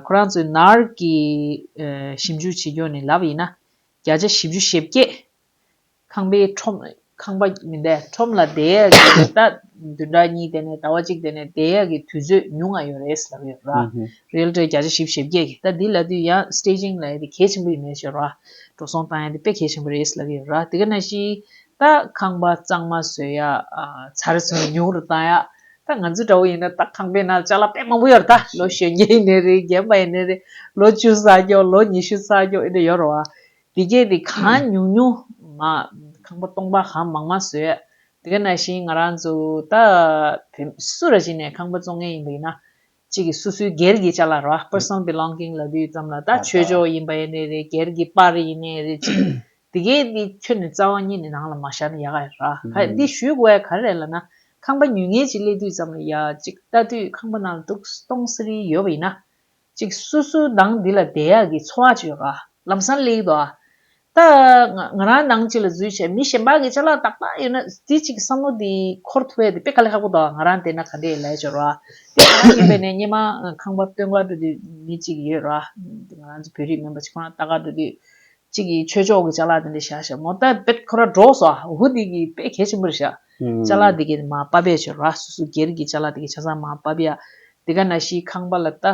ཁོ་རང་ཚོས་ནར་གྱི་ཞིབ་འཇུག་བྱེད་ཕྱོགས་ནས་ལབ་ཡིན་ན། བརྒྱ་ཆ་བཞི་བཅུ་ཞེ་བརྒྱད། ཁང་པའི་ཁྲོམ། ཁང་པ་མི་འདའི་ཁྲོམ་ལ་དེའི་ཡ་གི་རེ་ལྟ་བདུན་ཕྲག་གཉིས་དེ་ནས་ཟླ་བ་གཅིག་དེ་ནས་དེའི་ཡ་གི་དུས་ཚོད་ཉུང་ང་ཡོད་རེད་ཟེར་ཡོད་རེད། རེལ་གྲས་བརྒྱ་ཆ་བཞི་བཞི་བརྒྱད་གི་ད་དེ་ལ་དུས་ཡང Staging ལ་ཡ་དེ་གལ་ཆེན་པོ་ཡིན་མེད་ཤོད་རེད། འགྲོ་སོང་བཏང་ཡ་དེ་དཔེ་གལ་ཆེན་པོ་རེད་ཟེར་ཡོད་རེད་དེ་ག་ན་ཞིག་ད་ཁང་པ་གཙང་མ་བཟོས་ཡ་ཚ་རེ་ཚོད་ཉུང་རུ་བཏང་ཡ་ད་ང་ཚོའི་དགྲ་བོ་ཡིན་ན་ད་ཁང་པའི་ནང་ལྕགས་ལ་དཔེ་མང་པོ་ཡོད་རེད་ད་ལོ་གཞོན་བརྒྱད་ཡིན་ནི་རེད་རྒན་པ་ཡིན་ནི་རེད་ལོ་བཅུ་བསགས་རྒྱོགས་ལོ་ཉི་ཤུ་བསགས་རྒྱོགས་ཨེ་འདྲ་ཡོད་རེད་དེ་སྐད་དེ་གང་ཉུང་ཉུང། ཁང་པ་སྟོང་པ་གང་མང་མང་བཟོས། དེ་ག་ནང་བཞིན་ང་རང་ཚོ་ད། སུ་ར་ཞིག་ནས་ཁང་པ་བཙོང་མཁན་ཡིན་པ་ཡིན་ན། གཅིག་གིས་སུ་སུའི་སྒེར་གྱི་ལྕགས་ལ་ར Personal Belonging ལབ་ཡོད་ཙམ་ལ་ད་ཆོས་ཕྱོགས་ཡིན་པ་ཡིན་ནའི་རེད་སྒེར་གྱི་པར་ཡིན་ནའི་རེད་ཅིག། དེ་སྐད་དེ་ཁྱོད་ནས་རྩ་བ་ཉིད་ནས་ནང་ལ་མ་བཞག་ན་ཡག་ག་ར། ག་འདི་ཞུས་དགོས་ག་རེད་ལ་ན། ཁང་པ་ཉུལ་ངེས་ཅིག་སླེབས་དུས་ཙམ་ལ་ཡག་ཅིག་ལྟ་དུས་ཁང་པ་ནང་ལ་དུག་སྟོང་ཟེར་ཡོད་པ་ཡིན་ན། ཅིག་སུ་སུ་ནང་འདི་ལ་བདེ་ཡག་གི་འཚོ་བ་སྤྱོད་ག། ལམ་སང་གླེགས་དོ། ད་ང་རང་ནང་ཅིག་ལ་འཛུལ་བྱས་མི་གཞན་པ་གི་ཆ་ལག་ཏག་ཏག་ཡོད་ན་དེ་ཅིག་བསམ་བློ་དེ་འཁོར་ཐུབ་བས་དེ་དཔེ་ག་ལེ་ཁག་པོ་དང་ང་རང་བལྟས་ན་ག་འདྲའི་ལས་འབྱོར་བ། དེ་ང་རང་ཉན་པའི་ནས་སྙེ་མ་ཁང་པ་སྟོད་མཁར་འགྲོ་དུས་མི་ཅིག་ཡོད་ར། དེ་ང་རང་ཚོ་བོད་རིགས་མིན་པ་ཅིག་ཁོ་རང་ལྟ་ག་འགྲོ་དུས། ཅིག་གི་ཆོས་ཕྱོགས་གི་ཆ་ལག་དེ་འདྲ་བཞག་བཞག་མོ་ད་བེད་ཁོ་ར་འགྲོ་སོ་ཨ་འུ་དེ་གི་དཔེ་གལ་ཆེན་པོ་རེ་བཞག་ལྕགས་ལ་དེ་གས་མ་སྤ་བས་བྱོ་ར་སུ་སུ་སྒེར་གྱི་ལྕགས་ལ་དེ་གས་ཆ་ཚང་མ་སྤ་བས་ཡ་དེ་ག་ན་ཤིའི་ཁང་པ་ལ་ལྟ།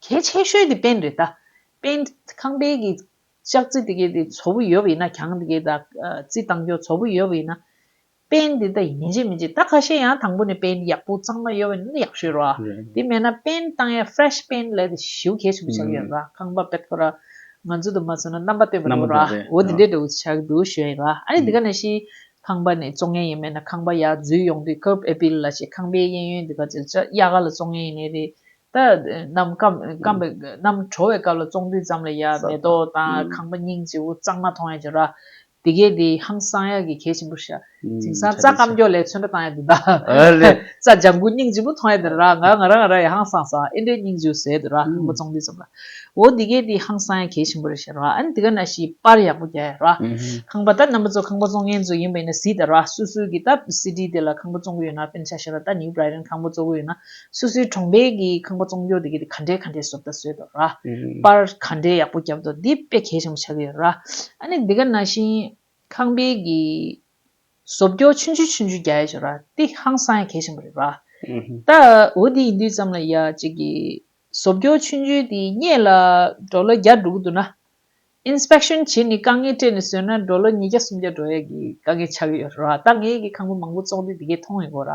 གས་ཆས་ཤོས་དེ་པན་རེད་ལྟ། པན། ཁང་པའི་གི་ལྕགས་རྩི་དེ་གས་དེ་ཚོ་བུ་ཡོ་བས་ཡིན་ན་གྱང་དེ་གས་ད་རྩི་དང་གྱོ་ཚོ་བུ་ཡོ་བས་ཡིན་ན། པན་དེ་ད་ཡིན་མི་འཇེ་མི་འཇེ་ད་ཁ་ཤས་ཡང་དང་པོ་ནས་པན་ཡག་པོ་གཙང་མ་ཡོ་བས་ཡིན་ན་ཡག་བྱོས་ར་དེ་མེད་ན་པན་བཏང་ཡ fresh པན་ལ་དེ་ཤིའུ་གས་ཆུ་བུ་ཆགས་ཡོ་ར་ཁང་པ་པད་ཕོ་ར་ང་ཚོ་དུ་མ་ཚོ་ན་རྣམ་པ་སྟོན་པ་རེད་བོ་ར་འོ་དེ་འདྲས་འདྲ་བུ་ཆགས་འདུག་བྱོས་ར་ཨ་ནི་དེ་ག་ན་ཤིའི་ཁང་པ་ནས་བཙོང་མཁན་ཡིན་མེད་ན་ཁང་པ་ཡག་འཛུལ་ཡོང་དུས་ཁུར་ཨེ་པིལ་ལ་ཞེས་ཁང་པའི་གཡས་གཡོན་འདི་ག་ཚོས་ཅག་གཡག་ག་ལ་བཙོང་མཁན་ཡིན་ནི་རེད་ད། གནམ་སྐམ་པའི་གནམ་གྲོ་བའི་སྐབས་ལ་བཙོང་དུས་ཙམ་ལ་ཡག་མེ་ཏོག་དང་ཁང་པ་སྙིང་རྗེ་བོ་གཙང་མ་མཐོང་ཡ་འགྱོ་ར། དེ་གས་དེ་ཧང་སང་ཡག་གི་གས་ཆེན་པོ་ཤ། དེང་སང་རྩྭ་སྐམ་འགྱོ་ལས་ཚོན་ཁྲ་བཏང་ཡ་འདུག་ད། རྩྭ་ལྗང་གུ་སྙིང་རྗེ་བོ་མཐོང་ཡ་འདུག་ར་ང་ང་ར་ང་ར་ཡ་ཧང་སང་སང་ཨེ་འདྲའི་སྙིང་རྗེ་བོ་ཟེར་འདུག་ར་ཁང་པ་བཙོང་དུས་ཙམ་ལ། འོ་འདི་གས་འདི་ཧང་སངས་གས་ཆེན་པོ་རེད་ཤེས་རོགས་ཨ་ནི་འདི་ག་ན་ཤིས་པར་ཡག་པོ་རྒྱག་ཡ་རོགས་ཁང་པ་ད་རྣམ་པ་ཚོ་ཁང་པ་བཙོང་མཁན་ཚོ་ཡིན་པ་ཡིན་ན་ཟིས་ད་རོགས་སུ་སུ་གིས་ད་སི་ཏི་དེ་ལ་ཁང་པ་བཙོང་གི་ཡོད་ན་པན་ཆ་ཤེས་རོགས་ད་ནིའུ་བར་རན་ཁང་པ་བཙོ་གི་ཡོད་ན་སུ་སུའི་གྲོང་པས་གིས་ཁང་པ་བཙོང་རྒྱུ་འདི་གས་འདི་ག་འདྲས་ག་འདྲས་བཟོ་ད་བཟོས་ད་རོགས་པར་ག་འདྲས་ཡག་པོ་བརྒྱབ་ད་འདི་དཔེ་གས་ཆེན་པོ་ཆགས་གི་ཡོད་རོགས་ཨ་ནི་འདི་ག་ན་ཤིས་ཁང་པས་གིས་བཟོ་བཀྱོ་ཆུན་ཆུན་ཆུན་ཆུན་རྒྱ་ཡ་ཞོ་ར་ཏི་ཧང་སང་ཡ་གས་བཞིན་པ་རེད་ར། ད་འོ་དེ་ཡིན་དུས་ཙམ་ལ་ཡ་གཅིག་གི་བཟོ་བཀྱོ་ཆུན་ཆུན་དེ་རྙེད་ལ་འགྲོ་ལོ་བརྒྱ་འགྲོ་གི་འདུག་ན། Inspection བྱེད་ནི་དཀའ་ངལ་སྤྲད་ནས་བཟོས་ན་འགྲོ་ལོ་ཉིས་བརྒྱ་སུམ་བརྒྱ་འགྲོ་ཡ་གི་དཀའ་ངལ་ཆགས་གི་ཡོད་ར་ད་ངས་གི་ཁང་པ་མང་པོ་བཙོག་དུས་དེ་གས་མཐོང་ཡོད་གོ་ར།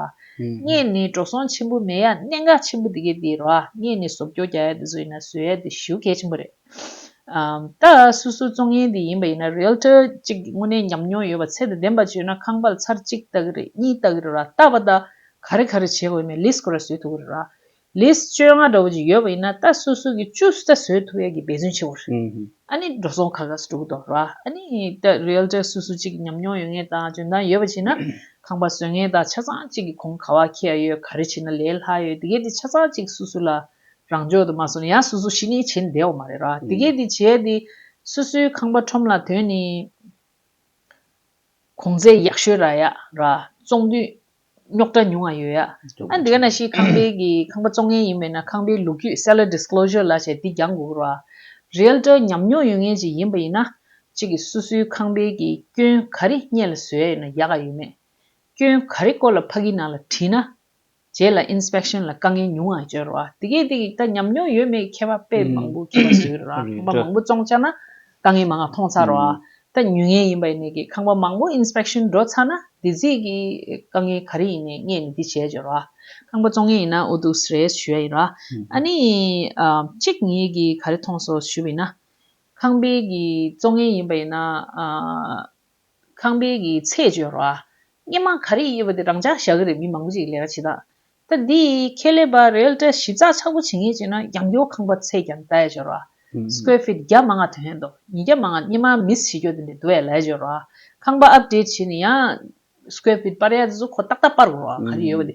ངས་ནི་འགྲོ་སོང་ཆེན་པོ་མེད་ཡ་གནད་འགག་ཆེན་པོ་དེ་གས་དེ་ར་ངས་ནི་བཟོ་བཀྱོ་རྒྱ་ཡ་དེ་བཟོ་ཡིན་ན་བཟོས་ཡ་དེ་ཞུ་གས་བཞིན་པ་རེད། ད་སོ་སོའི་བཙོང་ཡས་འདི་ཡིན་པ་ཡིན་ན Realtor གཅིག་གི་དངོས་གནས་ཉམས་མྱོང་ཡོད་པ་ཚད་དང་ལྡན་པ་བརྗོད་ན་ཁང་པར་ཚར་གཅིག་བལྟ་གི་རེད་གཉིས་བལྟ་གི་རེད་ར་བལྟ་བ་ད་ག་རེ་ག་རེ་བྱེད་དགོས་མེད Lease ཁོ་ར་བཟོས་ཐུབ་གི་རེད་ར Lease བཅོ་ལྔ་འདྲ་བོ་ཅིག་ཡོད་པ་ཡིན་ན་ད་སོ་སོ་གི་བཅུ་རྩ་བཟོས་ཐུབ་ཡས་ཀྱི་འབད་བརྩོན་བྱེད་དགོས་རེད་ཨ་ནི་འགྲོ་སོང་ཁ་ཁ་སུ་འགྲོ་གི་འདུག་ར་ཨ་ནི་ད Realtor སོ་སོ་གཅིག་གི་ཉམས་མྱོང་ཡོད་ངེས་དང་འཇོན་ཐང་ཡོད་པ་བྱེད་ན་ཁང་པ་བཟོས་ངེས་དང་ཆ་ཚང་གཅིག་གི་གོང་ག་བ་ཁེ་ཡ་ཡོད་ག་རེ་བྱེད་ན་ལས་སླ་ཡོད་དེ་གས་དེ་ཆ་ཚང་གཅིག་སོ་སོ་ལ་རང་འཇོག་དུ་མ་སོང་ཡང་སོ་སོ་ཞིག་ནི་བྱེད་བདེ་བ་མ་རེད་ར་དེ་གས་དེ་བྱས་དེ་སོ་སོའི་ཁང་པ་ཁྲོམ་ལ་དོན་ནི་གོང་ཚད་ཡག་ཤོས་ར་ཡག་ར་བཙོང་དུས་རྙོག་དྲ་ཉུང་བ་ཡོད་ཡ་ཨ་འདི་ག་ན་ཞིག་ཁང་པའི་གི་ཁང་པ་བཙོང་མཁན་ཡིན་པས་ན་ཁང་པའི་ལུགས་རྒྱུད Seller Disclosure ལ་བྱས་དེ་རྒྱང་དགོས་གི་ར Realtor ཉམས་མྱོང་ཡོད་མཁན་ཞིག་ཡིན་པ་ཡིན་ན་ཅིག་གི་སོ་སོའི་ཁང་པའི་གི་སྐྱོན་ག་རི་རྙེད་ལ་བཟོས་ཡོད་ན་ཡག་ག་ཡོད་མེད་སྐྱོན་ག་རི་སྐོར་ལ་ཕ་གི་ནང་ལ་དྲིས་ན་རྗེས་ལ Inspection ལ་དཀའ་ངལ་ཉུང་ཡང་འབྱོར། དེ་སྐད་དེ་ཡིག་ཐ་ཉམས་མྱོང་ཡོད་མེད་མཁས་པ་དཔེ་མང་པོ་མཁས་པ་ཟུར། ཁང་པ་མང་པོ་བཙོང་ཆགས་ན་དཀའ་ངལ་མང་ཡང་ཐོངས་ཚར། ད་ཉུལ་ངེས་ཡིན་པ་ཡིན་ནི་གི་ཁང་པ་མང་པོ Inspection འགྲོ་ཚར་ན་དེ་རྗེས་ཀྱི་དཀའ་ངལ་ག་རེ་ཡིན་ནས་ངས་ནི་འདི་བྱས་འབྱོར། ཁང་པ་བཙོང་ངེས་ཡིན་ན་འོ་དུག་ཟས་རེས་ཞུ་ཡ་ཡིན། ཨ་ནི། གཅིག་ངས་གི་ག་རེ་ཐོངས་སོ་ཞུ་བ་ཡིན། ཁང་པའི་གི་བཙོང་ངེས་ཡིན་པ་ཡིན། ཁང་པའི་གི་ཚད་བརྗོད་རོགས་ཨ། སྙེ་མ་ག་རེ་གཡས་པ་དེ་རང་འཇགས་བཞག་གི་རེད་མི་མང་པོ་ཅིག་ལས་ཀ་བྱེད་ད། ད་འདི་ཡི་ཁེ་ལས་པ་རེལ་གྲས་ཞིབ་ཚགས་ཆགས་པོ་བྱེད་ངེས་བྱེད་ན་ཡང་ཡོ་ཁང་པ་ཚད་ཀྱང་དལ་བརྗོད་རོགས་ཨ། Square Feet བརྒྱ་མ་ལྔ་དོན་ཡན་དོ་ཉིས་བརྒྱ་མ་ལྔ་སྙེ་མ་མིས་བྱེད་རྒྱོ་དེ་འདི་དོ་ཡ་ལས་བརྗོད་རོགས་ཨ། ཁང་པ Update བྱེད་ནི་ཡང Square Feet སྤར་ཡ་དེ་ཚོ་ཁོ་ཏག་ཏག་སྤར་དགོས་རོགས་ཨ་ག་རེ་ཡོད་པ་དེ་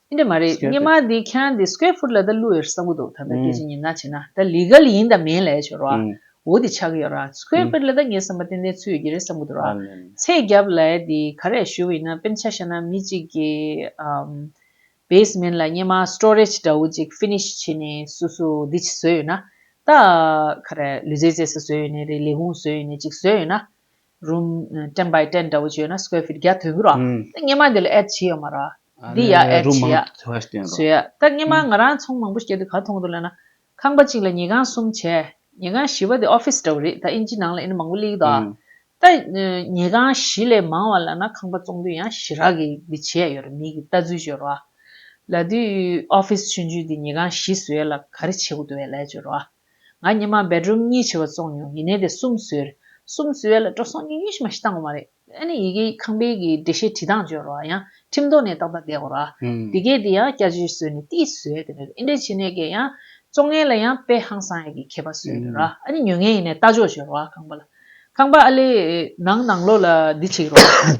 ཨེ་འདྲ་མ་རེད་སྙེ་མ་འདི་ཁྱང་འདི square foot ལ་ད་གླུ་ཡོད་བསམ་གི་འདུག་ད་ད་སྐད་ཅིག་ཉིན་ང་བྱེད་ན་ད legal ཡིན་ད་མིན་ལས་བྱོས་རོགས་ཨ་འོ་འདི་ཆག་གི་ཡོད་ར square foot ལ་ད་ངའི་བསམ་པ་ཏན་ཏན་ཚུད་ཡོད་ཀྱི་རེད་བསམ་གི་འདུག་ར་ཚད་རྒྱབ་ལས་འདི་ག་རེ་ཞུ་ཡིན་ན་དཔེ་ཆ་བཤད་ན་མི་གཅིག་གི basement ལ་སྙེ་མ storage འདྲ་བོ་ཅིག finish བྱེད་ནས་སུ་སུ་འདི་བྱེད་བཟོས་ཡོད་ན་ད་ག་རེ་ལུས་རྩལ་རྩེ་ས་བཟོས་ཡོད་ནས་རེད་ལས་ཁུང་བཟོས་ཡོད་ནས་ཅིག་བཟོས་ཡོད་ན་རུམ། ཏེན་བྷའི་ཏེན་འདྲ་བོ་བྱོས་ན square feet བརྒྱ་དོན་གྱི་རོ། ད་སྙེ་མ་འདི་ལ add བྱེད་ཡོད་མ་རོ། འདི་ཡ add རུམ་མང་བྱེད་ཐོས་ཏེན་རོ། བྱོས་ཡ། ད་སྙེ་མ་ང་རང་ཚོང་མང་པོ་བྱེད་དེ་ག་ཐོང་དུ་ལེན་ན། ཁང་པ་གཅིག་ལ་ཉི་གང་གསུམ་བྱས། ཉི་གང་བཞི་བ་དེ office འདྲ་བོ་རེད་ད་ཨིན་ཇི་ནང་ལ་ཨིན་མང་པོ་གླེགས་དོ། ད་ཉི་གང་བཞི་ལས་མང་བ་ལ་ན་ཁང་པ་བཙོང་དུས་ཡང་བཞི་རག་གི་འདི་བྱེད་ཡ་ཡོད་རེད་མིག་གི་ལྟ་ཚུལ་བྱོས་རོ། ལ་དུས office ཆུན་ཆུན་དེ་ཉི་གང་བཞི་བཟོས་ལ་ག་རེ་བྱེད་དགོས་དུ་བས་ལས་བྱོས་རོ། ང་ཉི་མ་སྦེད་རུམ་གཉིས་བྱི་བ་བཙོང་མྱོང་ཡིན་ནའི་དེ་གསུམ་བཟོས། གསུམ་བཟོས་ཡ་ལ་སྤྲོ་སོང་གཉིས་ཉུལ་ཤི་མ་ཤི་བཏང་གོ་མ་རེད། ཨ་ནི་ཡི་གེ་ཁང་པའི་གི་འགྲེལ་བཤད་བྲིས་སྟངས་བཅོས་རོགས་ཡང་ཁྲིམས་ཐོག་ནས་ཏག་ཏག་བསྡད་གོ་རོགས། དེ་གས་དེ་ཡང་སྐྱ་བྱི་བཟོས་ནས་ཏིས་བཟོས་དེ་ནས་ཨིན་འགྲེལ་བྱེད་ནས་གས་ཡང། བཙོང་ངན་ལ་ཡང་དཔེ་ཧང་སང་ཡ་གི་མཁས་པ་བཟོས་དེ་རོགས་ཨ་ནི་ཉོལ་ངན་ཡིན་ནའི་ལྟ་ཕྱོགས་བཅོས་རོགས་ཁང་པ་ལ། ཁང་པ་ཨ་ལས། ནང་ནང་ལོགས་ལ་འདི་བྱེད་གི་རོགས།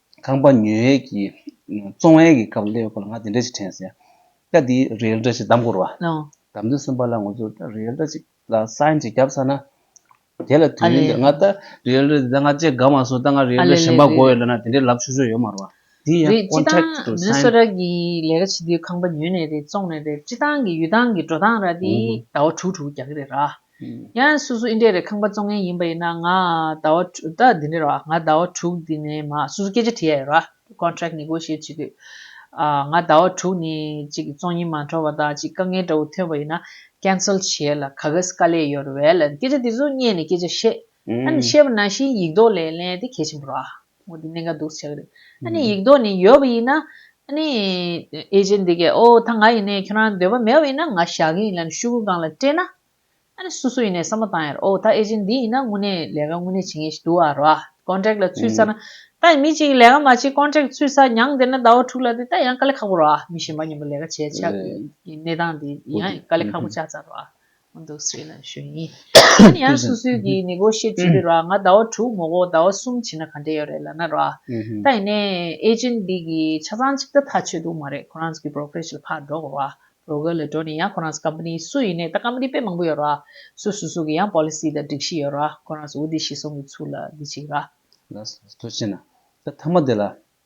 ཁང་པ་ཉོས་ཡས་ཀྱི་བཙོང་བས་ཀྱི་སྐབས་སླེབས་ཁོ་ལ་ང་དེ་འདྲ་ཞིག་དྲན་ཟེར། སྐབས་དེའི་རེལ་འདྲ་ཞིག་བདམས་དགོས་རུ་བ། བདམས་དུས་སེམས་པ་ལ་ངོ་ཚོ་ད་རེལ་འདྲ་ཅིག་ལ་སཱིན་ཅིག་བརྒྱབ་ས་ན། དེ་ལ་དུས་ཡུན་འདིར་ང་ད་རེལ་འདྲ་དེ་ད་ང་བཅས་དགའ་མ་སོང་ད་ང་རེལ་འདྲ་གཞན་པ་དགོས་ཡོད་ལབ་ན་དེ་འདྲའི་ལབ་ཆོག་ཆོག་ཡོད་མ་རུ་བ། དེ་ཡང་ཀོན་ཁྲེག་ཏུ་སཱིན། རེད་ཅི་ལྟར་ནི་སོ་ར་གི་ལས་ཀ་བྱེད་དུས་ཁང་པ་ཉོས་ནས་རེད་བཙོང་ནས་རེད་ཅི་ལྟར་གྱི་ཡུལ་སྟངས་ཀྱི་འགྲོ་སྟངས་ར་དེ་ཟླ་བ་དྲུག་དྲུག་བརྒྱག་གི་རེད་ར། ཡང་སོ་སོ་ཨི་འདྲའི་རེ་ཁང་པ་བཙོང་མཁན་ཡིན་པ་ཡིན་ན་ང་ཟླ་བ་དྲུག་ད་འདི་འདྲའི་རོ་ང་ཟླ་བ་དྲུག་འདི་ནས་མ་སོ་སོ་སྐད་ཆ་དྲི་ཡ་ཡོད་རོ Contract Negotiate བྱེད་དུས་ང་ཟླ་བ་དྲུག་ནས་ཅིག་བཙོང་ཉིན་མ་འཕྲོ་བ་དང་ཅིག་དཀའ་ངལ་འདྲ་བོ་ཐོན་པ་ཡིན་ན Cancel བྱེད་ལ་ག་གེས་དཀའ་ལས་ཡོད་རོ་བས་ལན་སྐད་ཆ་དེ་ཚོ་བསྙད་ནས་སྐད་ཆ་བཤད་ཨ་ནི་ཤེས་པ་ན་ཤིའི་ཡིག་ལྡོག་ལས་ལན་དེ་གལ་ཆེན་པོ་ར། མོ་དེ་གནད་འགག་འདུག་ཟེར་བྱ་གི་རེད། ཨ་ནི་ཡིག་ལྡོག་ནི་ཡོད་པ་ཡིན་ན། ཨ་ནི། ཨེ་ཅེ་འདི་གས་ཨོ་ད་ང་ཡིན་ནའི་ཁྱོད་རང་འདོད་པ་མེད་པ་ཡིན་ན་ང་བཞག་གི་ཡིན་ལ་ནི་ཤུ་གུ་སྒང་ལ་སྤྲད་ན། ཨ་ནི་སུ་སུ་ཡིན་ནའི་བསམ་བློ་བཏང་ཡ་རེད་ཨོ་ད་ཨེ་ཅེ་འདི་ཡིན་ན་དངོས་གནས་ལས་ཀ་དངོས་གནས་བྱེད་ངེས་ཤིག་འདུག་ཨ་ར། Contract ལ་ཚུད་ས་ན། ད་ཡིན་མི་གཅིག་གིས་ལས་ཀ་མ་བྱེད Contract ཚུད་ས་མྱངས་དེ་ན་ཟླ་བ་དྲུག་ལ་དེ་ད་ཡང་དཀའ་ལས་ཁག་པོ་ར། མི་གཞན་པ་མཉམ་པོ་ལས་ཀ་བྱས་ཆགས་གི་གནས་སྟངས་དེ་ཡང་དཀའ་ལས་ཁག་པོ་ཆགས་ཚར་ར། ང་འདུག་སའི་ལ་ཞོན་ཡིན། ཡིན་ཡང་སུ་སུའི་གིས་ནི་གོ་ཤེས་ཅི་རེད་ར་ང་ཟླ་བ་དྲུག་མོ་གོ་ཟླ་བ་གསུམ་བྱིན་ན་ག་འདྲེ་ཡོད་རེད་ལ་ན་ར། ད་ཡིན་ནའི agent འདི་གི་ཆ་ཚང་གཅིག་ད་ཐག་ཆོད་འདུག་མ་རེད་ཁོ་རང་ཚོ་གི brokerage ལ་ཕར་འགྲོ་དགོས་ར broker ལ་འགྲོ་ནས་ཡང་ཁོ་རང་ཚོ company སུ་ཡིན་ནའི་ད company དཔེ་མང་པོ་ཡོད་ར་སུ་སུ་སུ་གི་ཡང policy དང་སྒྲིག་གཞི་ཡོད་ར་ཁོ་རང་ཚོ་འུ་འདི་ཤི་སོང་གི་ཚུལ་ལ་འདི་བྱེད་ཀྱི་ར། ལ་སོ་ཅི་ན་ད་ཐ་མ་དེ་ལ་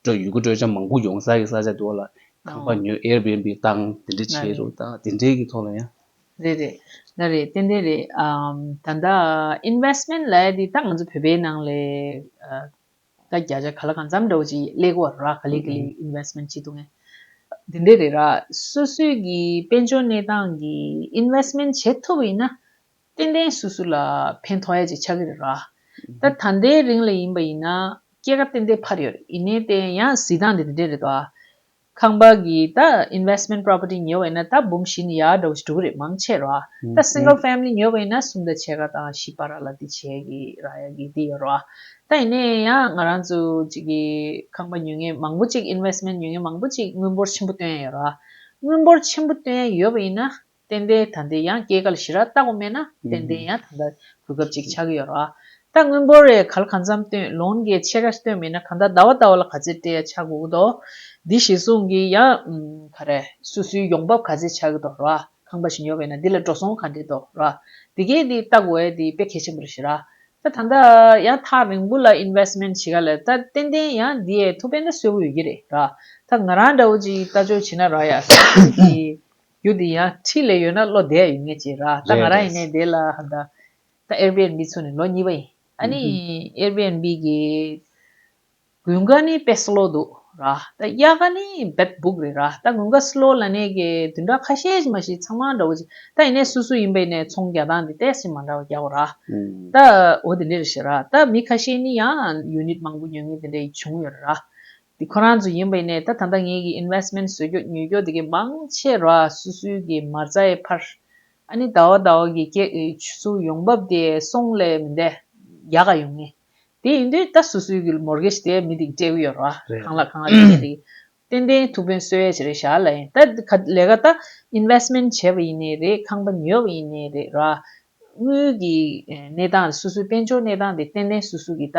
སྤྲོད་ཡུལ་གྱི་སྤྲོད་བྱ་མང་པོ་ཡོང་ས་ཀྱི་ས་ཆ་འདུག་ལ། ཁང་པ་ཉོས Airbnb བཏང་དེ་འདྲ་བྱས་རོགས་དང་དེ་འདྲའི་གི་ཐོག་ལ་ཡང། རེད་རེད། ན་རེད་ཏན་ཏན་རེད། ད་ལྟ Investment ལ་དེ་ད་ང་ཚོ་བོད་པའི་ནང་ལས། ད་བརྒྱ་ཆ་ག་ལ་གང་འཚམས་འདྲ་བོ་ཅིག་ལེགས་བོ་ར་ག་ལེགས་གི་ལེགས Investment བྱེད་འདུག་ངས། དེ་འདྲ་རེད་ར། སོ་སོའི་གི་དཔལ་འབྱོར་གནས་སྟངས་གི Investment བྱེད་ཐུབ་ཡིན་ན། རྟེན་འབྲེལ་སུ་སུ་ལ་ཕན་ཐོགས་ཡ་ཅིག་ཆགས་ཀྱི་རེད་ར། ད་ད་ལྟའི་རིང་ལ་ཡིན་པ་ཡིན་ན་སྐྱེད་ཀ་ཏན་ཏན་འཕར་ཡོད་རེད་ཡིན་ནའི་བལྟས་ཡང་གཟིགས་སྟངས་དེ་འདི་འདྲས་རེད་དོ། ཁང་པ་གི་ད investment property ཉོས་པ་ཡིན་ན་ད་འབུམ་བཞི་ནས་ཡར་འགྲོ་གི་འགྲོ་གི་རེད་མང་ཆེ་ར། ད single family ཉོས་པ་ཡིན་ན་གསུམ་ད་ཕྱེད་ཀ་དང་བཞི་པ་ར་ལ་དེ་བྱས་གི་ར་ཡ་གི་དེ་ཡོད་ར། ད་ཡིན་ནའི་ཡང་ང་རང་ཚོ་གཅིག་གི་ཁང་པ་ཉོས་ངེས་མང་པོ་གཅིག investment ཉོས་ངེས་མང་པོ་གཅིག་དངུལ་འབོར་ཆེན་པོ་བཏོན་ཡ་ཡོད་ར། དངུལ་འབོར་ཆེན་པོ་བཏོན་ཡ་ཡོད་པ་ཡིན་ན། ཏན་ཏན་ད་འདི་ཡང་སྐྱེས་གལ་ཞི་རགས་བརྟག་པ་མེད་ན་ཏན་ཏན་ཡང་ད་ལྟ་གོ་སྐབས་ཅིག་ཆགས་ཀྱི་ཡོད་རོ། ད་དངུལ་འབོར་རེ་གལ་གང་འཚམས་བཏོན་ལོང་གི་ཆེ་ར་བཏོན་མེད་ན་གང་ད་ད་བ་ད་བ་ལ་ག་ཚད་སྤྲད་ཡ་ཆགས་དགོས་ཀྱི་འདུག་འདི་ཞིག་གསུངས་ཀྱི་ཡ། ག་རེ། སུ་སུའི་ཡོང་འབབ་ག་ཚད་ཆགས་ཀྱི་འདུག་རོ། ཁང་པ་ཞིག་ཉོ་བས་ན་འདི་ལ་འགྲོ་སོང་ག་འདྲས་འདུག་རོ། འདི་གས་འདི་བརྟག་འོས་འདི་དཔེ་གལ་ཆེན་པོ་རེ་ཞི་རགས། ད་ད་འདི་ཡང་ཐག་རིང་པོ་ལ investment བྱེད་ག་ལ་ད་ཏན་ཏན་ཡང་འདི་ཡས་ཐུགས་ཕན་ད་སོས་པོ་ཡོད་ཀྱི་རེད་རོ། ད་ང་རང་འདྲ་བོ་ཅིག་ལྟ་སྤྱོད་བྱེད་ན་རགས་ཡ། སུ་ཞིག་གིས། རྒྱུ་འདི་ཡང་ཁྲིད་ལས་ཡོད་ན་བློ་བདེ་ཡོད་ངེས་ཅེས་ར་ད་ང་རང་ཡིན་ནའི་དེ་ལ་ཧ་ད། ད་ཨེར་པི་ཨེར་པི་ཚུགས་ནས་ལོ་གཉིས་པ་ཡིན་ཨ་ནི་ཨེར་པི་ཨེར་པི་གི། དགུན་ཁ་ནི་དཔེ་སློ་འདུག་ར་ད་དབྱར་ཁ་ནི་བེད་སྦུག་རེད་ར་ད་དགུན་ཁ་སློ་ལ་ནས་གི་དུས་འདྲ་ཁ་ཤས་ཀྱི་མ་ཤི་ཚང་མ་འདྲ་བོ་ཅིག་ད་ཡིན་ནའི་སུ་སུ་ཡིན་པ་ཡིན་ནའི་ཚོང་རྒྱག་སྟངས་དེ་ཏེས་ཀྱི་མ་འདྲ་བ་རྒྱག་གོ་ར་ད་འོ་དེ་འདྲའི་རེད་ཞེས་ར་ད་མི་ཁ་ཤས་ནི་ཡང་ཡུ་ནིད་མང་པོ་ཉོ་ངེས་དེ་འདྲའི་ཡིན་བྱུང་ཡོད་ར་ར་འདི་ཁོ་རང་ཚོ་ཡིན་པ་ཡིན་ནའི་ད་ད་ལྟ་ངེད་ཀྱི Investment བཟོས་རྒྱོ་ཉོས་རྒྱོ་དེ་གི་མང་ཆེ་ར་སུ་སུའི་གི་མར་རྩ་ཡའི་ཕར་ཨ་ནི་ད་བ་ད་བ་གི་སྐྱེ་ཨི་སུ་ཡོང་བབ་དེ་སོང་ལས་མི་འདའ་ཡ་ག་ཡོང་ངེས་དེ་ཡིན་དུས་ད་སུ་སུའི་གི Mortgage དེ་མི་དེ་གི་སྤྲད་གི་ཡོད་ར་གང་ལ་གང་ལ་དེ་གི་དེ་གི་ཏན་ཏན་ཐུགས་ཕན་སོས་ཡ་ཆེ་རེད་ཞ་ལ་ཡིན་ད་ག་ལས་ག་ད Investment བྱས་པ་ཡིན་ནའི་རེད་ཁང་པ་ཉོས་པ་ཡིན་ནའི་རེད་ར་དངུལ་གི་གནས་སྟངས་སུ་སུའི་དཔལ་འབྱོར་གནས་སྟངས་དེ་ཏན་ཏན་སུ་སུ་གི་ད།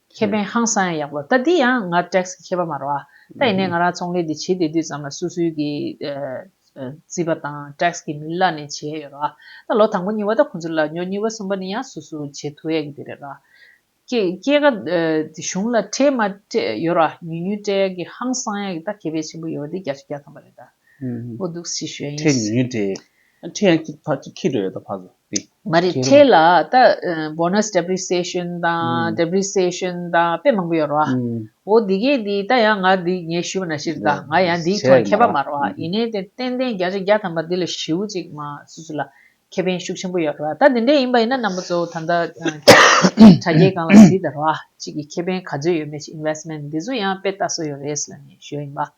ཁེ་ཕན་ཧང་སང་ཡང་ཡག་པོ་ལྟ་འདི་ཡང་ང་ཏེགས་ཀྱི་ཁེ་ཕ་མ་རོ་ཨ་ད་ཡིན་ནའི་ང་རང་ཚོང་ལས་འདི་བྱེད་བསྡད་དུས་ཙམ་ལ་སུ་སུའི་གི་རྩིས་པ་དང་ཏེགས་ཀྱི་མིན་ལ་ནས་བྱས་ཡོད་རོ་ཨ་ད་ལོ་དང་པོ་གཉིས་བ་ད་ཁོང་ཚོ་ལ་ཉོ་གཉིས་བ་གསུམ་པ་ནི་ཡང་སུ་སུ་བྱེད་ཐུ་ཡས་གི་དེ་རེད་རོ་ཨ་སྐྱེས་ཀ་གཞུང་ལ་སྤྲད་མ་སྤྲད་ཡོད་རོ་ཨ་ཉུས་ཉུས་སྤྲད་ཡས་གི་ཧང་སང་ཡས་གི་ད་ཁེ་ཕའི་ཆེན་པོ་ཡོད་བ་འདི་རྒྱ་ཆུ་རྒྱ་ཐམ་པ་རེད་ད་འོ་འདུག་སི་ཞོའི་ཡིན། ཁྲེ་ཉུས་ཉུས་སྤྲད། མ་རེད་ཁྲེལ་ལ་ད bonus depreciation དང depreciation དང་དཔེ་མང་པོ་ཡོད་རོགས་ཨ་འོ་འདི་གས་འདི་ད་ཡང་ང་འདི་ངས་ཞུ་བ་ན་ཤེར་ད་ང་ཡང་འདིའི་ཐོག་མཁས་པ་མ་རོགས་ཨ་ཡིན་ནའི་དེ་ཏན་ཏན་བརྒྱ་ཆ་བརྒྱ་ཐམ་པ་འདི་ལ་ཞུ་ཅིག་མ་སུ་སུ་ལ་ཁེ་ཕན་ཤུགས་ཆེན་པོ་ཡོད་རོགས་ཨ་ད་འདི་འདྲས་ཡིན་པ་ཡིན་ན་རྣམ་པ་གཙོ་བོ་ད་ད་དྲ་རྒྱའི་སྒང་ལ་གཟིགས་ད་རོགས་ཨ་གཅིག་གི་ཁེ་ཕན་ག་ཚོད་ཡོད་མེད་ཅིག investment འདི་ཚོ་ཡང་དཔེ་ལྟ་སྲོལ་ཡོད་རེད་ཟེར་ནས་ཞུ་བ་ཡིན་པ།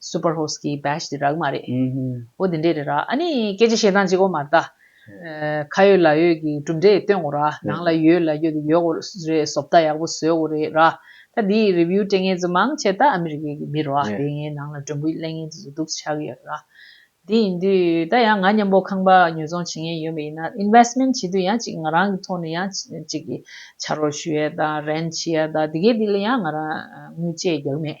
Super Host གི Badge དེ་རག་མ་རེད། ཨོ་དེ་འདྲས་རེད་ར། ཨ་ནི་སྐད་ཆ་བཤད་སྟངས་ཅིག་ཨོ་མ་རེད་ད། ཁ་ཡོད་ལག་ཡོད་ཀྱི་གྲུབ་འབྲས་སྟོན་དགོས་ར། ནང་ལ་ཡོད་ལ་ཡོད་དེ་ཡོད་དགོས་རེད་བཟོ་ལྟ་ཡག་པོ་བཟོས་དགོས་རེད་ར། ད་དེ་ཡི Review སྤྲད་མཁན་ཚོ་མང་ཆེ་ད་ཨ་མི་རི་ཀའི་གི་མི་རོ། དེ་ངའི་ནང་ལ་དྲོན་པོ་གླེང་མཁན་དེ་ཚོ་སྡུག་ཆགས་ཀྱི་ཡོད་ར། དེ་ཡིན་དུས་ད་ཡང་ང་མཉམ་པོ་ཁང་པ་ཉོས་ཚོང་བྱེད་མཁན་ཡོད་མ་ཡིན་ན Investment བྱེད་དུས་ཡང་ཅིག་ང་རང་གི་ཐོག་ནས་ཡང་ཅིག་བྱ་རོགས་ཞུ་ཡ་ད Rent བྱེད་ཡ་ད་དེ་གའི་དེ་ལ་ཡང་ང་རང་དངུལ་བཅས་རྒྱག་མེད།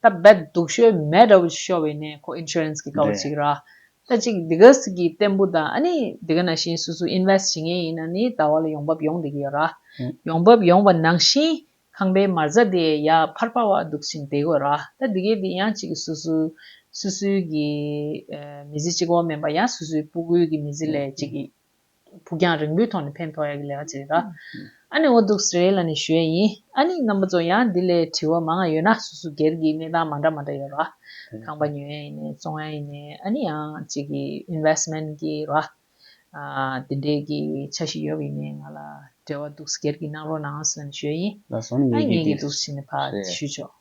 ད་རྦད་སྡུག་ཤོས་མེད་དྲ་བོ་ཅིག་ཤོར་བའི་ནས་ཁོ insurance གི་དགའ་བོ་ཅིག་ར། ད་ཅིག་དེ་ག་ཟིག་གི་བརྟན་པོ་དང་ཨ་ནི་དེ་ག་ན་བཞིན་སུ་སུ invest བྱེད་ངེས་ཡིན་ན་ནི་ད་བར་ལ་ཡོང་འབབ་ཡོང་བསྡད་ཀྱི་ཡོད་ར། ཡོང་འབབ་ཡོང་བ་ནང་བཞིན་ཁང་པའི་མར་རྫ་དེ་ཡར་འཕར་འཕར་བ་འདུག་ཅིང་དེ་གོ་ར། ད་དེ་གའི་དེ་ཡང་ཅིག་སུ་སུ་སུ་སུའི་གི་མི་ཟི་ཅིག་འོག་མིན་པ་ཡང་སུ་སུའི་སྤུ་གུའི་གི་མི་ཟི་ལས་ཅིག་གི། ཕུགས་རྒྱང་རིང་པོའི་ཐོག་ནས་ཕན་ཐོགས་ཡག་གི་ལས་ཀ་བྱེད་ཡོད། ཨ་ནི་འོ་འདུག་སེ་ལ་ནི་ཞོལ་ཡིན། ཨ་ནི་རྣམ་པ་ཚོ་ཡང་འདི་ལས་དྲི་བ་མང་ང་ཡོད་ན་སུ་སུ་སྒེར་གྱི་གནས་སྟངས་མ་འདྲ་མ་འདྲ་ཡོད་ར། ཁང་པ་ཉོ་ཡས་ཡིན་ནས་བཙོང་ཡས་ཡིན་ནས་ཨ་ནི་ཡང་གཅིག་གི investment གི་ར། དེ་འདྲས་གི་ཆ་ཞིག་ཡོད་གི་ཡིན་ནས་ང་ལ་བྲེལ་བ་འདུག་སེ་སྒེར་གྱི་གནང་རོགས་གནང་ཨ་སེ་ལ་ནི་ཞོལ་ཡིན། ལ་སོང་ནས་ཡོད་ཨ་ཡིན་རྒྱུ་ངེས་གི་དེ་འདུག་སེ་ནི་ཕ་ཞུས་ཆོག།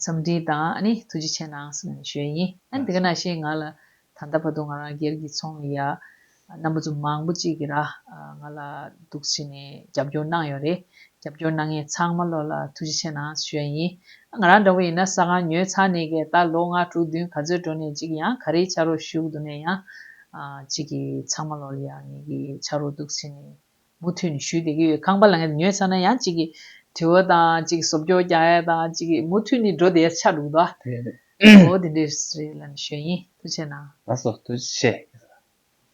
འཚམས་འདྲི་དང་ཐུགས་རྗེ་ཆེ་གནང་གསུང་ནས་བྱོན་ཡིན། ཨ་དེ་ག་ནང་བཞིན་ང་ལ་ད་ལྟ་བར་དུ་ང་རང་སྒེར་གྱི་ཚོང་ལས་ཡག་རྣམ་པ་ཚོ་མང་པོ་ཅིག་གི་ར་ང་ལ་འདུག་བྱས་ནས་རྒྱབ་སྐྱོར་གནང་ཡོད་རེད། རྒྱབ་སྐྱོར་གནང་མཁན་ཚང་མ་ལོ་ལ་ཐུགས་རྗེ་ཆེ་གནང་བྱོན་ཡིན། ཨ་ང་རང་འདྲ་བོ་ཡིན་ན་ས་སྒང་ཉོས་ཚར་ནས་གས་ད་ལོ་ལྔ་དྲུག་བདུན་ག་ཚོད་འགྲོ་ནས་ཅིག་ཡང་ག་རེའི་ཆ་རོགས་ཞུགས་འདུག་ནས་ཡང་ཅིག་གི་ཚང་མ་ལོ་ལ་ཡག་ཉེས་ཀྱི་ཆ་རོགས་འདུག་བྱས་ནས་མུ་མཐུད་ནས་ཞུས་བསྡད་ཀྱི་ཡོད་ཁང་པ་ལ་ངས་ཉོས་ཚར་ན་ཡང་གཅིག་གིས་དྲི་བ་དང་གཅིག་གིས་སོབ་སྐྱོར་རྒྱག་ཡ་དང་གཅིག་གིས་མུ་མཐུད་ནས་འགྲོ་བསྡད་ཡ་ཆགས་འདུག་ད། དེ་རེད་དེ་རེད། འོ་དེ་འདྲས་རེད་ལ་ནི་ཞོན་ཡིན་ཐུ་ཆེ་ན། ལ་སོ་ཐུ་ཆེ།